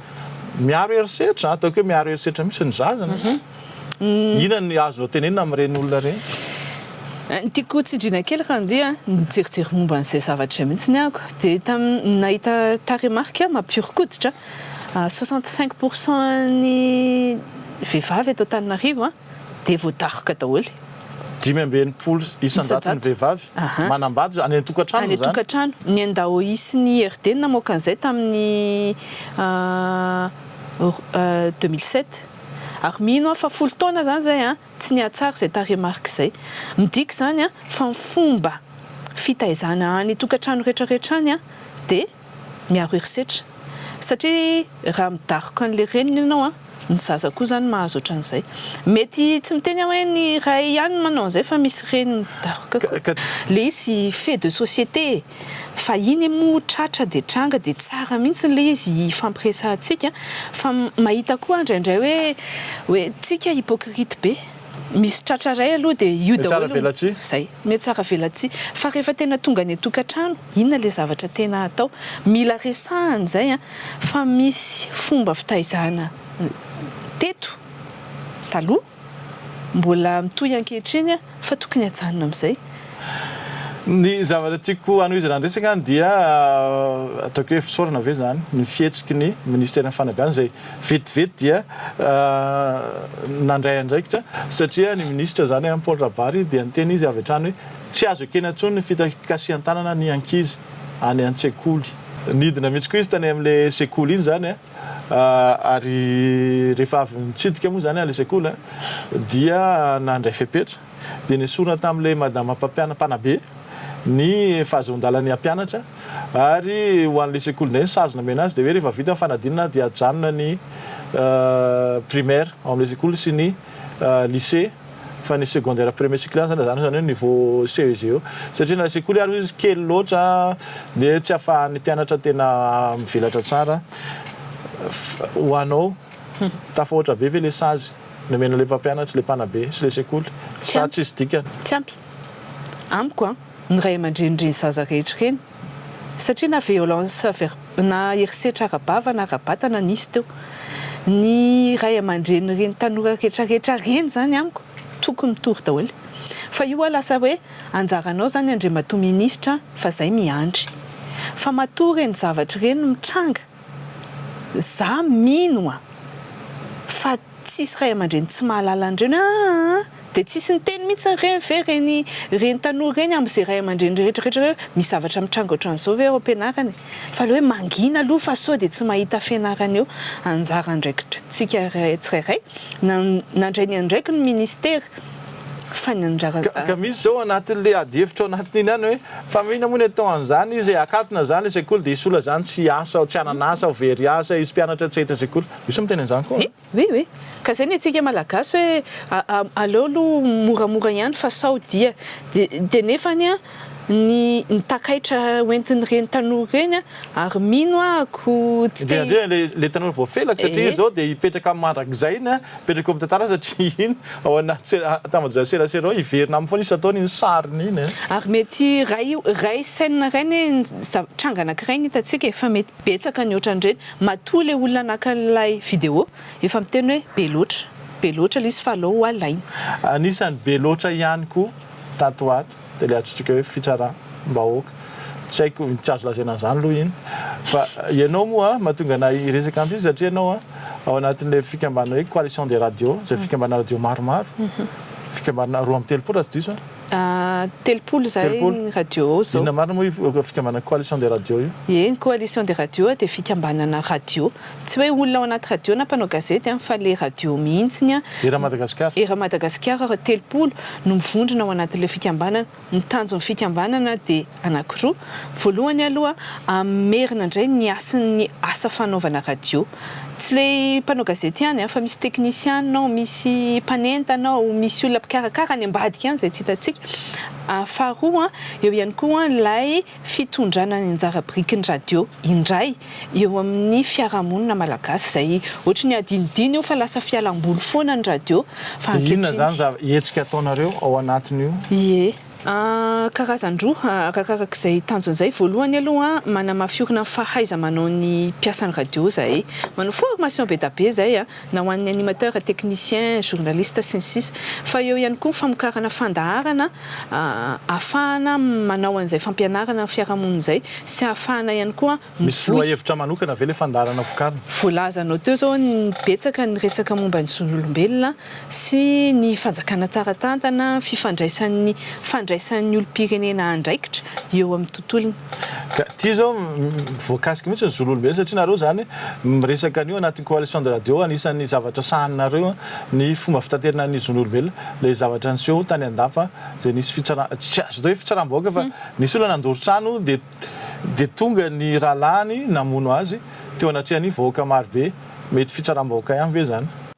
Miaro herisetra, ataoko hoe miaro herisetra mihitsy ny zaza anie e. Inona ny azonao tenenina amin'ireny olona ireny? Ny tiako ho tsindriana kely raha andeha nijerijery momba an'izay zavatra izay mihitsy ny ahako dia tam- nahita tarehimarika mampihoron-koditra. Soixante cinq pour cent an'ny vehivavy eto Antananarivo dia voadaroka daholo. Dimy amby enimpolo isan-jaton'ny vehivavy manambady any an-tokantrano izany. Any an-tokantrano. Ny an-daoisin' i RD no namoaka an'izay tamin'ny deux mille sept. Ary mino aho fa folo taona izany izay tsy nihatsara izay tarehimarika izay. Midika izany fa ny fomba fitaizana any an-tokantrano rehetrarehetra any dia Miaro herisetra. Satria raha midaroka an'ilay reniny ianao, ny zaza koa izany mahazo ohatran'izay. Mety tsy miteny aho hoe ny ray ihany no manao an'izay fa misy reny midaroka koa. Ilay izy fait de société e! Fa iny moa tratra dia tranga dia tsara mihitsy ilay izy hifampiresahantsika fa mahita koa aho indraindray hoe hoe tsika hypocrite be. Misy tratra iray aloha dia io daholo. Mihatsara velatsihy. Izay. Mihatsara velatsihy. Fa rehefa tena tonga any an-tokantrano, inona ilay zavatra tena atao? Mila resahana izay an! Fa misy fomba fitaizana teto taloha, mbola mitohy ankehitriny an! Fa tokony hajanona amin'izay. Ny zavatra tiako hanohizana ny resaka dia, ataoko hoe fisaorana ve izany ny fihetsiky ny Ministeran'ny Fanabeazana izay Vetivety dia nandray andraikitra satria ny minisitra izany, Paul Rabary, dia niteny izy avy hatrany hoe tsy azo ekena intsony ny fikasihan-tanana ny ankizy any an-tsekoly. Nidina mihitsy koa izy tany amin'ilay sekoly iny izany ary rehefa avy nitsidika moa izany ilay sekoly dia nandray fepetra. dia nesorina tamin'ilay madama mpampiana, mpanabe, ny fahazon-dalan'ny hampianatra, ary ho an'ilay sekoly indray ny sazy nomena azy dia hoe rehefa vita ny fanadinana dia ajanona ny primaire ao amin'ilay sekoly sy ny lycée fa ny secondaire premier cycle ihany izany ajanona izany hoe niveau CEG eo satria ilay sekoly ary hoy izy kely loatra dia tsy afahan'ny mpianatra tena mivelatra tsara ho anao tafahoatra be ve ilay sazy Nomena ilay mpampianatra ilay mpanabe sy ilay sekoly sa tsisy dikany? Tsy ampy. Amiko an, ny ray aman-dreny ireny zaza rehetra ireny. Satria na violence ver, na herisetra ara-bava na ara-batana nisy teo. Ny ray aman-drenin'ireny tanora retraretra ireny izany amiko tokony mitory daholo. Fa io hoa lasa hoe anjaranao izany Andriamatoa Minisitra fa izay miandry. Fa matoa ireny zavatra ireny mitranga Za mino an! fa tsisy ray aman-dreny tsy mahalala an'ireny aa! dia tsisy niteny mihitsy re ve ireny ireny tanora ireny amin'izay ray aman-dreny rehetra rehetra hoe misy zavatra mitranga ohatran'izao ve ao am-pianarana e! fa ilay hoe mangina aloha fa sao dia tsy mahita fianarana eo anjara andraikitr'tsika tsirairay na nandray ny andraikiny ny ministera Ka misy zao anatin'le adihevitra ao anatiny iny ihany hoe, fa mino moa ny atao an'zany izy e, akatona zany le sekoly de hisola zany tsy hiasa ao, tsy hanana asa ao, very hiasa izy, mpianatra tsy hahita sekoly. Misy miteny an'zany koa an. Oui oui, ka zay ny antsika malagasy hoe aleo aloha moramora ihany fa sao dia. Dia nefany an. ny ny takaitra hoentin'ireny tanora ireny ary mino aho ko tsy te Indrindra indrindra ilay ilay tanora voafelaky satria Ehe. izy izao dia hipetraka mandrakizay iny an, hipetraka eo amin'ny tantara satria iny ao anaty se- tambajotran'ny serasera ao hiverina aminy foana izy ataony iny sariny iny an. Ary mety iray iray scène iray anie ny zav- tranga anankiray no hitantsika e, fa mety betsaka ny ohatran'ireny. Matoa ilay olona naka an'ilay vidéo efa miteny hoe be loatra, be loatra ilay izy fa aleo ho alaina. Anisan'ny be loatra ihany koa tato ho ato. dia ilay antsointsika hoe fitsaram bahoaka. Tsy haiko tsy azo lazaina an'izany aloha iny fa ianao moa mahatonga anay hiresaka an'ity satria ianao ao anatin'ilay fikambanana hoe coalition des radios izay fikambanana radio maromaro fikambanana roa amby telopolo raha tsy diso an? Telopolo izay ny radio ao izao. Inona marina moa io fikambanana coalition des radios io? Eny coalition des radios dia fikambanana radio. Tsy hoe olona ao anaty radio na mpanao gazety an, fa le radio mihitsiny an. Era Madagasikara. Era Madagasikara raha telopolo no mivondrona ao anatin'ilay fikambanana. Ny tanjon'ny fikambanana dia anankiroa. Voalohany aloha hamerina indray ny hasin'ny asa fanaovana radio. Tsy le mpanao gazety ihany an, fa misy teknisiana ao, misy mpanentana ao, misy olona mpikarakara any ambadika any izay tsy hitantsika. Faharoa an, eo ihany koa ilay. fitondrana ny anjara biriky ny radio indray eo amin'ny fiarahamonina malagasy izay ohatry ny adinodino io fa lasa fialamboly foana ny radio fa ankehitriny. Dia inona izany zava, hetsika ataonareo ao anatin'io? Ie. Karazan-droa arakaraka izay tanjony izay, voalohany aloha manamafy orina ny fahaiza-manao ny mpiasan'ny radio izahay, manao formation be da be izay. na ho an'ny animateur, technicien, journaliste, sy ny sisa Fa eo ihany koa ny famokarana fandaharana ahafahana manao an'izay fampianarana ny fiarahamonina izay sy ahafahana ihany koa Misy mivoy. lohahevitra manokana ve ilay fandaharana vokarina? Voalazanao teo izao ny betsaka ny resaka momba ny zon'olombelona sy ny fanjakana tsara tantana, fifandraisan'ny fandraisan'ny olom-pirenena andraikitra eo amin'ny tontolony. Ka ity izao voakasika mihitsy ny zon'olombelona satria nareo izany Miresaka an'io anatin'ny Coalition de Radio, anisan'ny zavatra sahaninareo ny fomba fitaterana ny zon'olombelona, ilay zavatra niseho tany Andapa izay nisy fitsara-, tsy azo atao hoe fitsaram-bahoaka fa nisy olona nandoro trano dia dia tonga ny rahalahiny namono azy teo anatrehan'ny vahoaka marobe, mety fitsaram-bahoaka ihany ve izany?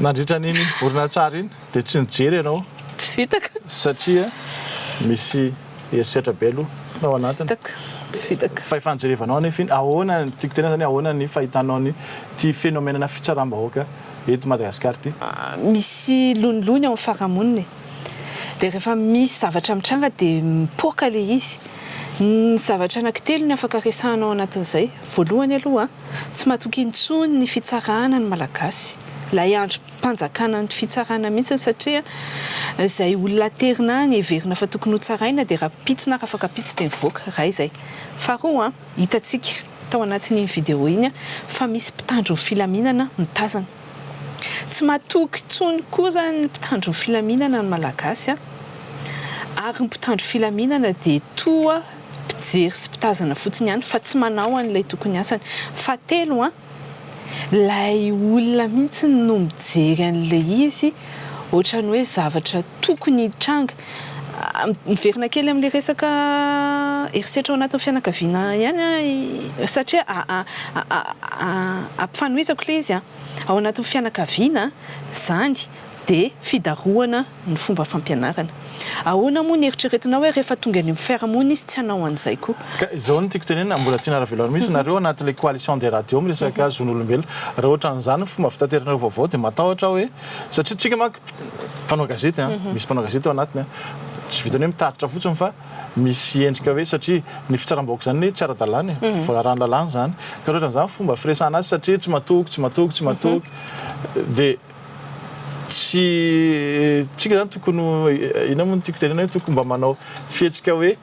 Nandritra an'iny horonantsary iny dia tsy nijery ianao satria misy herisetra be aloha tao anatiny. Fa efa nijerevanao anefa iny. Ahoana, tiako tenenana hoe ahoana ny fahitanao ny ity fenomenana fitsaram-bahoaka eto Madagasikara ity? Misy lonilony ao amin'ny farahamonina e. Dia rehefa misy zavatra mitranga dia mipoaka ilay izy. Ny zavatra anankitelo no afaka resahana ao anatin'izay. Voalohany aloha, tsy matoky intsony ny fitsarana ny Malagasy. Ilay andrim-panjakana ny fitsarana mihitsy satria izay olona aterina any heverina fa tokony hotsaraina dia rahampitso na rafakapitso dia mivoaka. Iray izay. Faharoa, hitantsika tao anatin'iny video iny fa misy mpitandro ny filaminana mitazana. Tsy matoky intsony koa izany ny mpitandro ny filaminana ny Malagasy an! Ary ny mpitandro filaminana dia toa mpijery sy mpitazana fotsiny ihany fa tsy manao an'ilay tokony asany. Fahatelo an! Ilay olona mihitsy no mijery an'ilay izy Ohatran'ny hoe zavatra tokony hitranga. Miverina kely amin'ilay resaka herisetra ao anatin'ny fianakaviana ihany aho satria ampifanohizako ilay izy. Ao anatin'ny fianakaviana izany dia fidarohana ny fomba fampianarana. Ahoana moa ny eritreretinao hoe rehefa tonga eny amin'ny fiarahamonina izy tsy hanao an'izay koa? Ka izao no tiako tenenina, mbola tiana ravelarina mihitsy nareo anatin'ilay coalition des radios miresaka zon'olombelona. Raha ohatran'izany ny fomba fitateranareo vaovao dia matahotra aho hoe, satria tsika manko mpanao gazety an, misy mpanao gazety ao anatiny an, tsy vitan'ny hoe mitatitra fotsiny fa misy endrika hoe satria ny fitsaram-bahoaka izany anie tsy ara-dalàna e, voararan'ny lalàna izany. Ka raha ohatran'izany fomba firesahana azy satria tsy matoky, tsy matoky, tsy matoky dia. Tsy tsika izany tokony ho, inona moa no tiako tenenina hoe tokony mba manao fihetsika hoe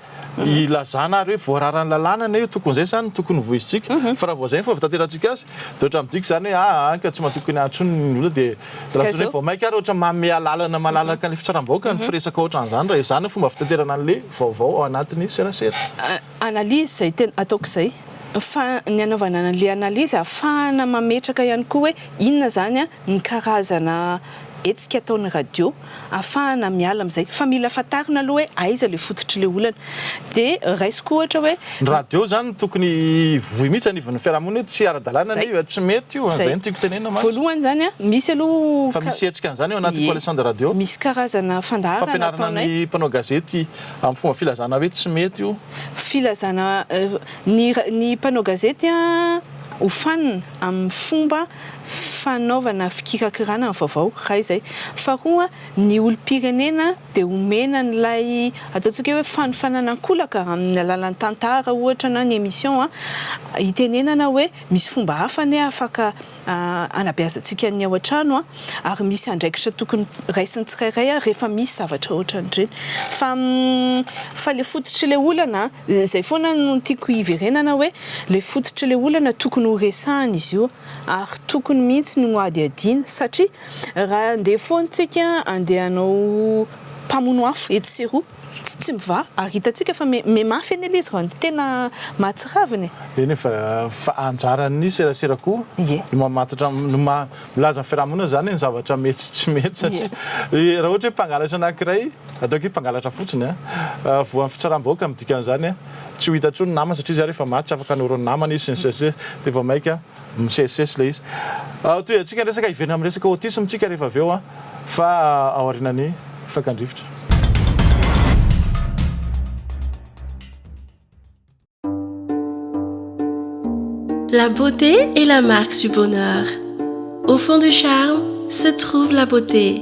ilazana ary hoe voararan'ny lalàna anie io, tokony izay izany no tokony ho voizintsika. Fa raha vao izay no fomba fitanterantsika azy dia ohatran'ny midika izany hoe aa anka tsy matokony ahy intsony ny olona dia lasa hoe vao mainka ary ohatran'ny manome alalana malalaka ny fitsaram-bahoaka ny firesaka ohatran'izany raha izany no fomba fitanterana an'ilay vaovao ao anatin'ny serasera. analyse izay tena ataoko izay fa ny anaovana anle analyse ahafahana mametraka ihany koa hoe inona izany ny karazana hetsika ataon'ny radio ahafahana miala amin'izay fa mila fantarina aloha hoe aiza ilay fototr'ilay olana dia raisiko ohatra hoe Ny radio izany tokony hivoy mihitsy anivon'ny fiarahamonina hoe tsy ara-dalàna anie io, tsy mety io, izay no tiako tenenina mantsy. Voalohany izany an, misy aloha. Fa misy hetsika an'izany ao anaty coalition de radio? Misy karazana fandaharana ataonay. Fampianarana ny mpanao gazety Amin'ny fomba filazana hoe tsy mety io. Filazana ny ny mpanao gazety hofanina amin'ny fomba fanaovana fikirakirana ny vaovao, iray izay. Faharoa, ny olom-pirenena dia omena an'ilay ataontsika hoe fanofanana an-kolaka amin'ny alalan'ny tantara ohatra na ny émission hitenenana hoe misy fomba hafa anie afaka hanabeazantsika ny ao an-trano ary misy andraikitra tokony raisin'ny tsirairay rehefa misy zavatra ohatran'ireny fa fa ilay fototr'ilay olana izay foana no tiako hiverenana hoe ilay fototr'ilay olana tokony ho resahina izy io ary tokony mihitsy no hadihadiana satria raha andeha foana isika andeha hanao mpamono afo etsy sy eroa Tsy tsy mivaha ary hitantsika fa mi mi mafy anie le izy raha ny tena mahatsiravina e. Eny fa fa anjaran'ny serasera koa Ie. ny mamantatra ny maha milaza ny fiarahamonina zany hoe ny zavatra mety sy tsy mety Ie. satria raha ohatra hoe mpangalatra anankiray ataoko hoe mpangalatra fotsiny a voan'ny fitsaram-bahoaka ny dikan'izany a tsy ho hita intsony ny namany satria izy ary efa maty tsy afaka hanoro ny namany izy sy ny sisa sy ny sisa de vao maika Misesisesy ilay izy. Toy antsika resaka hiverina amin'ny resaka autisme tsika rehefa avy eo fa ao aorianan'ny fakan-drivotra. La beauté est la marque du bonheur. Au fond du charme se trouve la beauté.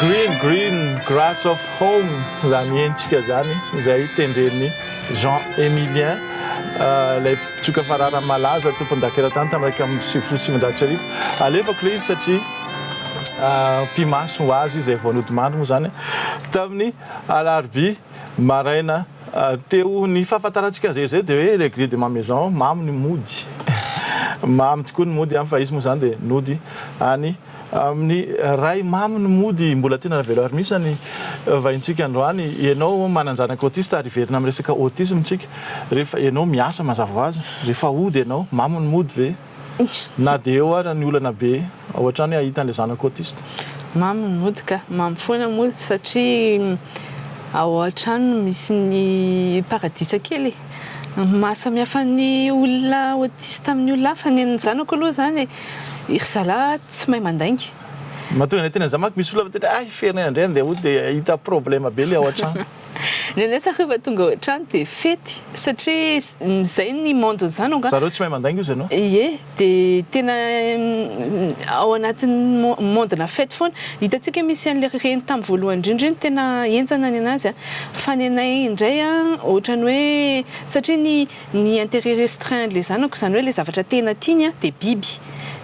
Green Green Grass of Home izany hentsika izany izay tendren'ny Jean Emilien euh, ilay mpitsoka farara malaza tompondakeratany tamin'ny raika amby sivifolo sy sivinjato sy arivo alefako ilay izy satria euh, mpimaso ho azy izay voanodimandry moa izany tamin'ny alarobia Maraina teo, ny fahafantarantsika an'izay izay dia hoe le grille de ma maison, mamy ny mody. Mamy tokoa ny mody any fa izy moa izany dia nody any amin'ny ray. Mamy ny mody, mbola tena ravelo ary misy ny vahintsika androany, ianao manan-janaka autiste ary hiverina amin'ny resaka autisme tsika, rehefa ianao miasa mazava ho azy, rehefa hody ianao, mamy ny mody ve? Na dia eo aza ny olana be, ao hatrany hoe hahita an'ilay zanako autiste. Mamy ny mody ka! Mamy foana moa izy satria ao hatrany no misy ny paradisa kely e! Ny maha samihafa ny olona autiste amin'ny olona hafa, ny an'ny zanako aloha izany e, ry zalahy tsy mahay mandainga. Mahatonga ny aty an'izany manko misy olona miteny hoe hay ferinaina indray andeha hody dia hahita problème be ilay ao hatrany. Neneh sa reva tonga ao trano de fety satria zay ny monde zany angah. Zareo tsy mahay mandainga ozy anao. Ie de tena ao anatin'ny monde na fety foana hitantsika hoe misy anle reny tam voalohany indrindra iny tena enjana nenazy a fa nenay indray a otrany hoe satria ny ny interet restreint anle zanako zany hoe le zavatra tena tiany a de biby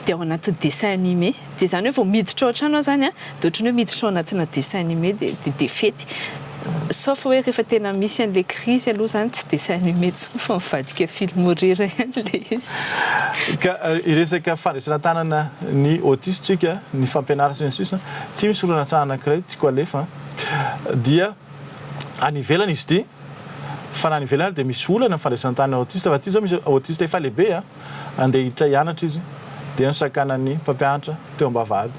de ao anatin'ny dessin animé. Dia izany hoe vao miditra ao an-trano aho izany an, dia ohatran'ny hoe miditra ao anatina dessin animé dia dia dia fety. Sauf hoe rehefa tena misy an'ilay crise aloha izany tsy dessin animé intsony fa mivadika film horreur ihany ilay izy. Ka hiresaka fandraisana tanana ny autistes tsika, ny fampianarana sy ny sisa. Ity misy horonantsary anankiray tiako alefa an. Dia any ivelany izy ity, fa na any ivelany ary dia misy olana ny fandraisana tanana ny autistes fa ity izao misy autistes efa lehibe an. Handeha hiditra hianatra izy dia nosakanan'ny mpampianatra teo am-bavahady.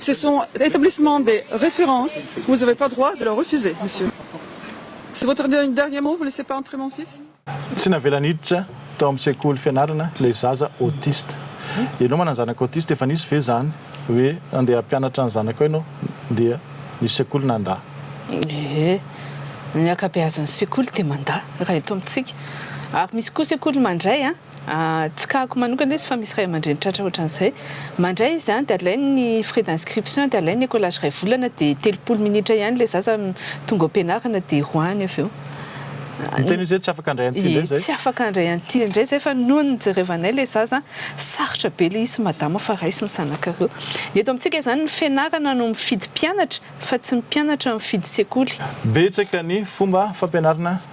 Ce sont établissements de référence, vous avez pas droit de leur refuser, monsieur. C'est votre dernier mot, vous laissez pas entrer mon fils? Tsy navela niditra tao amin'ny sekoly fianarana ilay zaza autiste. Ianao manana zanaka autiste, efa nisy ve izany hoe andeha hampianatra ny zanakao ianao dia misy sekoly nandà? Ee, ny ankabeazan'ny sekoly dia mandà raha eto amintsika, ary misy koa sekoly mandray an! Tsy kako manokana izy fa misy ray aman-dreny tratra ohatran'izay. Mandray izy any dia alainy ny frais d'inscription dia alainy ny écolage iray volana dia telopolo minitra ihany ilay zaza tonga ao am-pianarana dia roahiny avy eo. Ny tena izy hoe tsy afaka handray an'ity indray izay? Tsy afaka handray an'ity indray izay fa noho ny nijerevanay ilay zaza sarotra be ilay izy sy madama fa raiso ny zanakareo. Ny eto amintsika izany ny fianarana no mifidy mpianatra fa tsy ny mpianatra mifidy sekoly. Betsaka ny fomba fampianarana.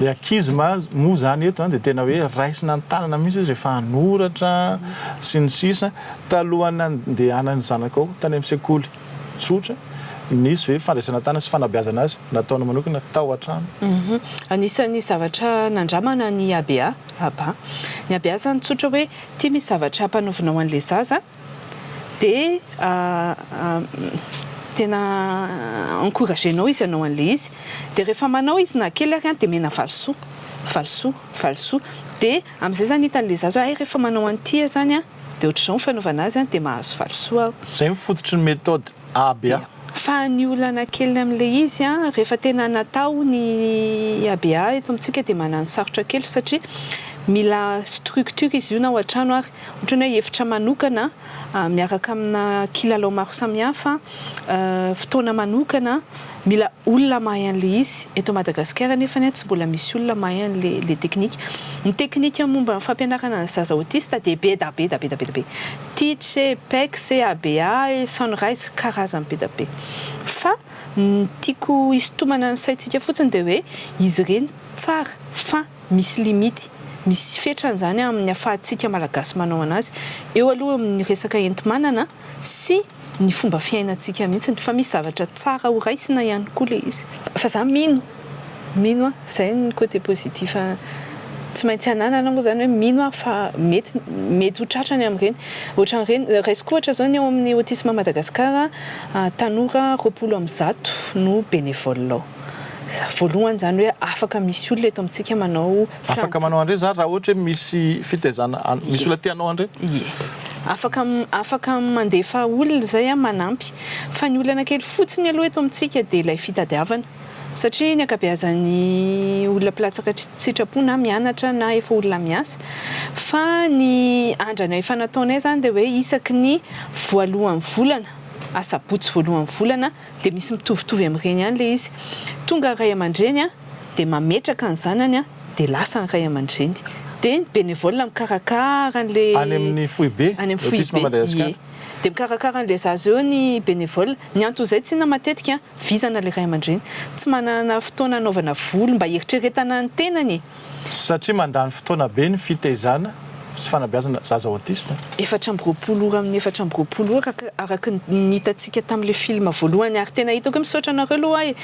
Ny ankizy moa izany eto dia tena hoe raisina ny tanana mihitsy izy rehefa hanoratra sy ny sisa. Talohan'ny nandehanan'ny zanakao tany amin'ny sekoly tsotra, nisy ve fandraisana tanana sy fanabeazana azy nataony manokana tao an-trano? Anisan'ny zavatra nandramana ny ABA, Aba. Ny ABA izany tsotra hoe ity misy zavatra hampanovinao an'ilay zaza, dia tena encouragenao izy hanao an'ilay izy dia rehefa manao izy na kely ary dia omena valisoa, valisoa, valisoa dia amin'izay izany hitan'ilay zaza hoe hay rehefa manao an'ity aho izany an dia ohatr'izao ny fanaovana azy dia mahazo valisoa aho. Izay no fototry ny methode ABA. Fa ny olana kely amin'ilay izy an rehefa tena natao ny ABA eto amintsika dia manano sarotra kely satria mila structure izy io na ao an-trano ary Ohatran'ny hoe efitra manokana miaraka amina kilalao maro samihafa, fotoana manokana, mila olona mahay an'ilay izy. Eto Madagasikara anefa tsy mbola misy olona mahay an'ilay teknika. Ny teknika momba ny fampianarana ny zaza autiste dia be da be da be da be da be. Teach e, Pex e, ABA e, Sunrise, karazany be da be. Fa ny tiako hisintomana ny saintsika fotsiny dia hoe izy ireny tsara fa. Misy limite, misy fetrany izany amin'ny afahantsika Malagasy manao an'azy. Eo aloha eo amin'ny resaka enti-manana sy ny fomba fiainantsika mihitsy, fa misy zavatra tsara ho raisina ihany koa ilay izy. Fa za mino, mino an, izay ny côté positif tsy maintsy ananana moa izany hoe mino aho fa mety, mety ho tratrany amin'ireny. Ohatran'ireny, raisiko ohatra izao ny ao amin'ny Autisme Madagascar, tanora roapolo amin'ny zato no bénévole ao. Voalohany izany hoe afaka misy olona eto amintsika manao frantsay. Afaka manao an'ireny izany raha ohatra hoe misy fitaizana, misy olona te hanao an'ireny? Ie. Afaka afaka mandefa olona izay manampy. Fa ny olana kely fotsiny aloha eto amintsika dia ilay fitadiavana. Satria ny ankabeazan'ny olona mpilatsaka an-tsitrapo na mianatra na efa olona miasa. Fa ny andrana efa nataonay izany dia hoe isaky ny voalohan'ny volana, asabotsy voalohan'ny volana, dia misy mitovitovy amin'ireny ihany ilay izy. Tonga ny ray aman-dreny dia mametraka ny zanany dia lasa ny ray aman-dreny. Dia ny bénévole mikarakara an'ilay. Any amin'ny foibe, any amin'ny foibe, ie. Dia mikarakara an'ilay zaza eo ny bénévole. Ny anton'izay tsinona matetika vizana ilay ray aman-dreny. Tsy manana fotoana hanaovana voly mba hieritreretana ny tenany e. Satria mandany fotoana be ny fitaizana sy fanabeazana zaza autiste. Efatra amby roapolo ora amin'ny efatra amby roapolo ora araka ny hitantsika tamin'ilay film voalohany ary tena hitako hoe misaotra anareo aloha aho e!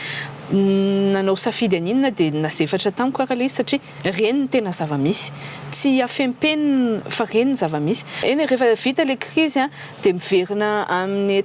nanao safidy haninona dia nazefatra tamiko ary ilay izy satria reny ny tena zava-misy, tsy hafempenina fa reny ny zava-misy. Eny e, rehefa vita ilay krizy dia miverina amin'ny.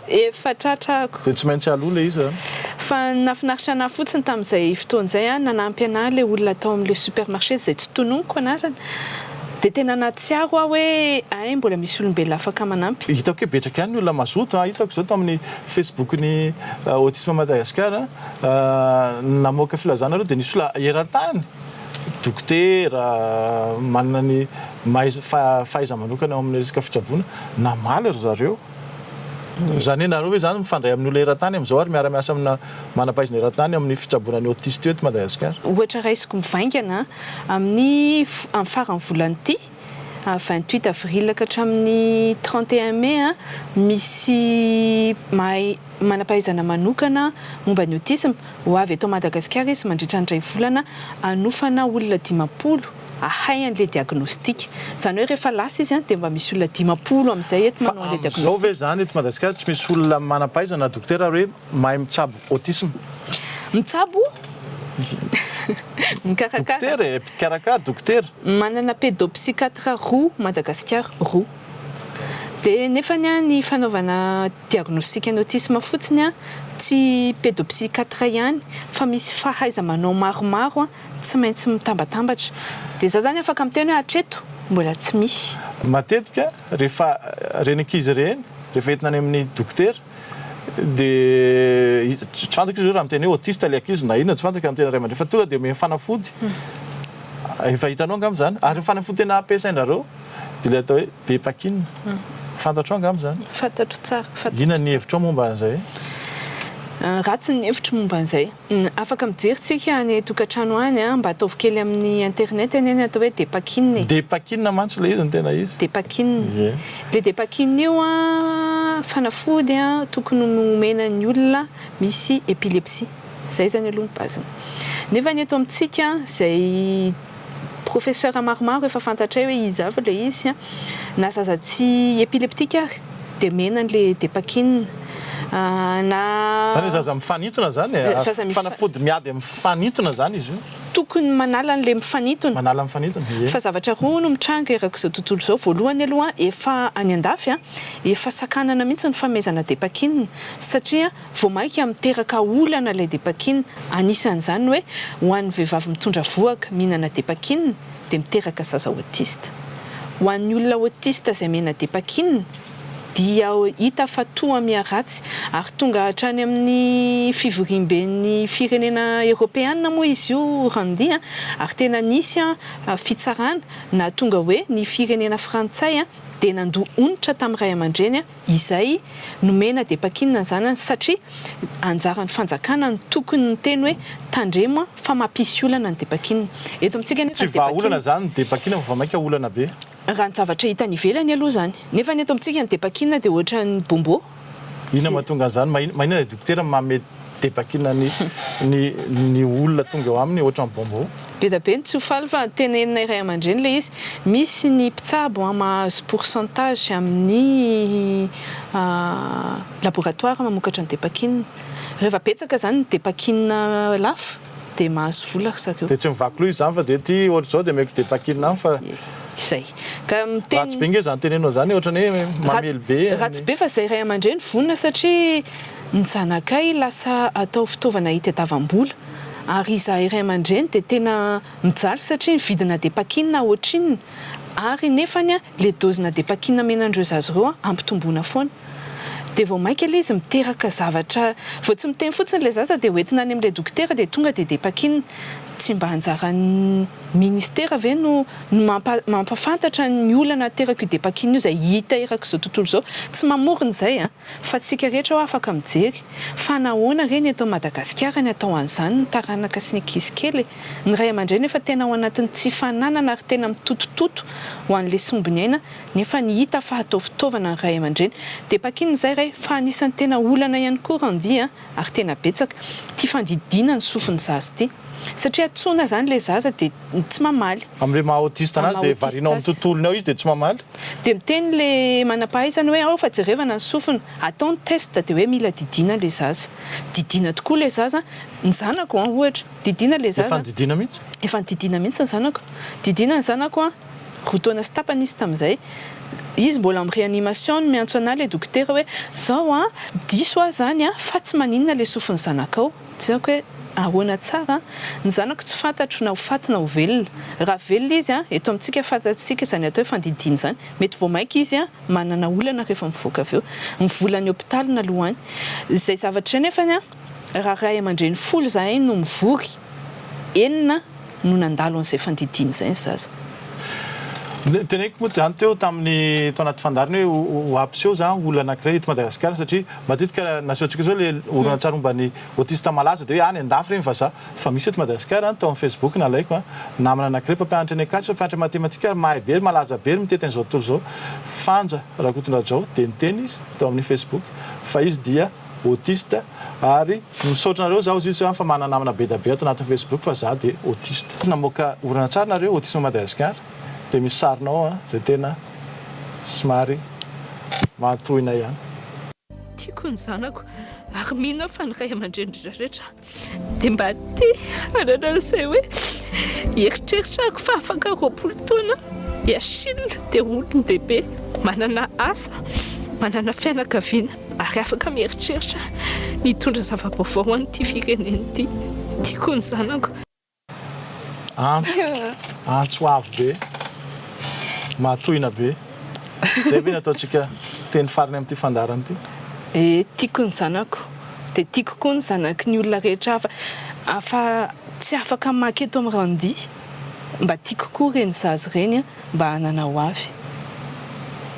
Efa tratra ako. Dia tsy maintsy aloha ilay izy an. Fa nafinaritra anah fotsiny tamin'izay fotoana izay an, nanampy anah ilay olona tao amin'ilay supermarché izay tsy tononiko anarana. Dia tena nahatsiaro aho hoe hay mbola misy olombelona afaka manampy. Hitako hoe betsaka ihany ny olona mazoto an, hitako izao tao amin'ny Facebook-n'ny Autisme Madagascar an, namoaka filazana ireo dia nisy olona eran-tany, dokotera, manana ny maha izy, fahaiza-manokana ao amin'ny resaka fitsaboana, namaly ry zareo. Izany hoe nareo ve izany mifandray amin'ny olona eran-tany amin'izao ary miara-miasa amina manam-pahaizana eran-tany amin'ny fitsaboana ny autiste eto Madagasikara? Ohatra raisiko mivaingana amin'ny amin'ny faran'ny volana ity, vingt huit avril ka hatramin'ny trente et un mai, misy mahay manam-pahaizana manokana momba ny autisme ho avy eto Madagasikara izy mandritra ny iray volana hanofana olona dimampolo ahay an'ilay diagnostika. Izany hoe rehefa lasa izy dia mba misy olona dimampolo amin'izay eto manao an'ilay diagnostika. Fa amin'izao ve izany eto Madagasikara tsy misy olona manam-pahaizana na dokotera ary hoe mahay mitsabo autisme? Mitsabo? Mikarakara? Dokotera e, mpikarakara, dokotera. Manana pédopsychiatre roa Madagasikara, roa. Dia nefany an, ny fanaovana diagnostika ny autisme fotsiny an, tsy pédopsychiatre ihany fa misy fahaiza-manao maromaro an, tsy maintsy mitambatambatra. Dia za zany afaka miteny hoe hatreto mbola tsy misy. Matetika rehefa ireny ankizy ireny rehefa entina any amin'ny dokotera dia tsy fantako izy io raha miteny hoe autiste ilay ankizy na inona tsy fantako amin'ny tena ray aman-dreny fa tonga dia omeny fanafody efa hitanao angamba izany ary ny fanafody tena ampiasainareo dia ilay atao hoe bepakin fantatrao angamba izany? Fantatro tsara. Inona ny hevitrao momba an'izay? Ratsy ny hevitro momba an'izay. Afaka mijery tsika any tokatrano any a. Mba ataovy kely amin'ny internet anie ny atao hoe Depakina e. Depakina mantsy ilay izy no tena izy. Depakina. Ilay Depakina io a, fanafody a, tokony omena ny olona misy epilepsie. Izay izany aloha ny base-ny. Nefa ny eto amintsika izay. Professeur maromaro efa fantatray hoe iza avy ilay izy, na zaza tsy epileptique ary dia mena ilay depakine na. Izany hoe zaza mifanintona izany e? Zaza misy. Fanafody miady amin'ny mifanintona izany izy io? Tokony manala an'ilay mifanintona. Manala ny mifanintona, ie. Fa zavatra roa no mitranga erak'izao tontolo izao, voalohany aloha efa any an-dafy efa sakanana mihitsy ny fanomezana depakine satria. Vao mainka miteraka olana ilay depakina, anisan'izany ny hoe ho an'ny vehivavy mitondra vohoka mihinana depakina dia miteraka zaza autiste. Ho an'ny olona autiste izay mihena depakina dia hita fa toa miha ratsy ary tonga hatrany amin'ny fivoriamben'ny firenena eropeana moa izy io Randi a! ary tena nisy fitsarana nahatonga hoe ny firenena frantsay dia nandoa onitra tamin'ny ray aman-dreny izay nomena dia pakinina ny zanany satria anjaran'ny fanjakana no tokony niteny hoe tandremo an fa mapisy olana ny dia pakinina eto amintsika anefa ny dia pakinina tsy vahaolana izany ny dia pakinina fa vao mainka olana be raha ny zavatra hita any ivelany aloha izany nefa ny eto amintsika ny dia pakinina dia ohatran'ny bombo inona mahatonga an'izany? maninona ilay dokotera mamed Dia vakina ny ny ny olona tonga eo aminy ohatran'ny bonbon. Beda be ny tsy ho faly fa tenenina iray aman-dreny le izy, misy ny mpitsabo an mahazo pourcentage amin'ny laboratoire mamokatra ny depakina, reva betsaka zany ny depakina lafo, Dia mahazo vola ry zareo. Dia tsy mivaky loha izany fa dia ity ohatra izao dia omeko dia takina ihany fa. Izay. Ka miteny. Ratsy be nge izany tenenao izany e, ohatrany hoe mamely be e. Ratsy be fa izay ray aman-dreny vonona satria ny zanakay lasa atao fitaovana hitadiavam-bola. Ary izahay ray aman-dreny dia tena mijaly satria ny vidina dia pakinina ohatrinona ary nefany Le dozy na de paquina menandreo zaza reo an ampitomboina foana. De vao maika le izy miteraka zavatra vao tsy miteny fotsiny le zaza de hoentina any amle dokotera de tonga de de paquina. Tsy mba anjaran'ny ministera ve no no mampa mampafantatra ny olana aterak'io de paquina io zay hita erak'izao tontolo zao. Tsy mamorona zay an. Fa tsika rehetra hoa afaka mijery. Fa nahoana re ny eto Madagasikara ny atao an'izany ny taranaka sy ny ankizy kely e? Ny ray aman-dreny efa tena ao anatin'ny tsy fananana ary tena mitotototo ho an'ny lesombiny aina nefa ny hita fa atao fitaovana ny ray aman-dreny. Dia pakinina izay ray fa anisan'ny tena olana ihany koa Randy a! ary tena betsaka tia fandidiana ny sofiny zaza ity satria antsoina zany ilay zaza dia tsy mamaly Am le maha autiste anazy dia varianao am tontolony ao izy dia tsy mamaly? Dia miteny le manampahaizana hoe ao fa jerevana ny sofiny, atao ny test dia hoe mila didiana ilay zaza. Didiana tokoa ilay zaza, ny zanako an ohatra, didiana ilay zaza. Efa nididiana mihitsy? Efa nididiana mihitsy ny zanako. Didiana ny zanako an. Roa taona sy tapany izy tamin'izay. Izy mbola am reanimation no miantso anah le dokotera hoe zao an, diso aho zany an, fa tsy maninona le sofin'ny zanakao. Tsy haiko hoe ahoana tsara an. Ny zanako tsy fantatro na ho faty na ho velona. Raha velona izy an, eto amintsika fantatsika izany atao hoe fandidiana izany. Mety vao maika izy an, manana olana rehefa mivoaka avy eo. Ny volan'ny hopitaly naloany. Izay zavatra izay nefany an, raha ray aman-dreny folo izahay no mivory. enina no nandalo an'izay fandidiana izay ny zaza. Noteneniko moa izany teo tamin'ny tao anaty fandaharana hoe ho hampiseho izany ho olana anankiray eto Madagasikara satria matetika nasehontsika izao ilay horonantsary momba ny autiste malaza dia hoe any an-dafy ireny vazaha fa misy eto Madagasikara, tao amin'ny Facebook nalaiko, namana anankiray mpampianatra eny Ankatso, mpampianatra matematika ary mahay be ary malaza be ary mitety an'izao tontolo izao, Fanja Rakotondrajao dia niteny izy tao amin'ny Facebook fa izy dia. autiste ary misaotra anareo zaho zisy fa manana namana be da be ato anatin'ny facebook fa za de autiste. Namoaka horonantsary nareo Autisme Madagascar de misy sarinao ao an zay tena somary maha tohina ihany. Tiako ny zanako ary mino aho fa ny ray aman-drenin-dry rehetra. Dia mba te hanana izay hoe hieritreritra aho fa afaka roapolo taona i Achille dia olon-dehibe, manana asa, manana fianakaviana ary afaka mieritreritra ny hitondra zava-baovao ho an'ity firenena ity. Tiako ny zanako. Antso, antso avo be, mahatohina be. Izay ve ny ataontsika teny farany amin'ity fandaharana ity? E, tiako ny zanako, dia tiako koa ny zanaky ny olona rehetra hafa. Afa-tsy afaka maka eto amin'ny ranodia, mba tiako koa ireny zaza ireny an! mba hanana ho avy.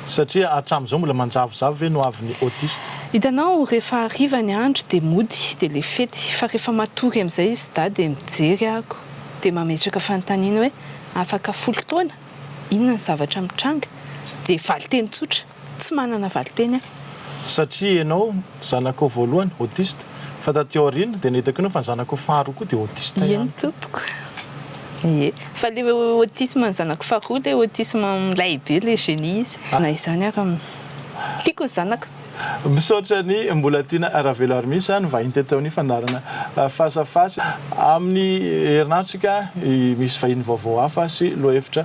Satria hatramin'izao mbola manjavozavo ve ny ho avin'ny autiste? Hitanao, rehefa hariva ny andro dia mody, dia le fety, fa rehefa matory amin'izay i Sda dia mijery ahako, dia mametraka fanontaniana hoe, afaka folo taona? inona ny zavatra mitranga? dia valin-teny tsotra. Tsy manana valinteny aho. Satria enao zanakao voalohany autiste fa taty aoriana dia nahitako enao fa ny zanakao faharoa koa dia autiste ihany. Eny tompoko ee. Fa le autisme ny zanako faharoa le autisme milay be le génie izy. Na izany ary tiako ny zanako. Misaotra ny mbola tiana Raveloarmis a, ny vahiny teto amin'ny fandaharana Face à face. Amin'ny herin'atrika misy vahiny vaovao hafa sy lohahevitra.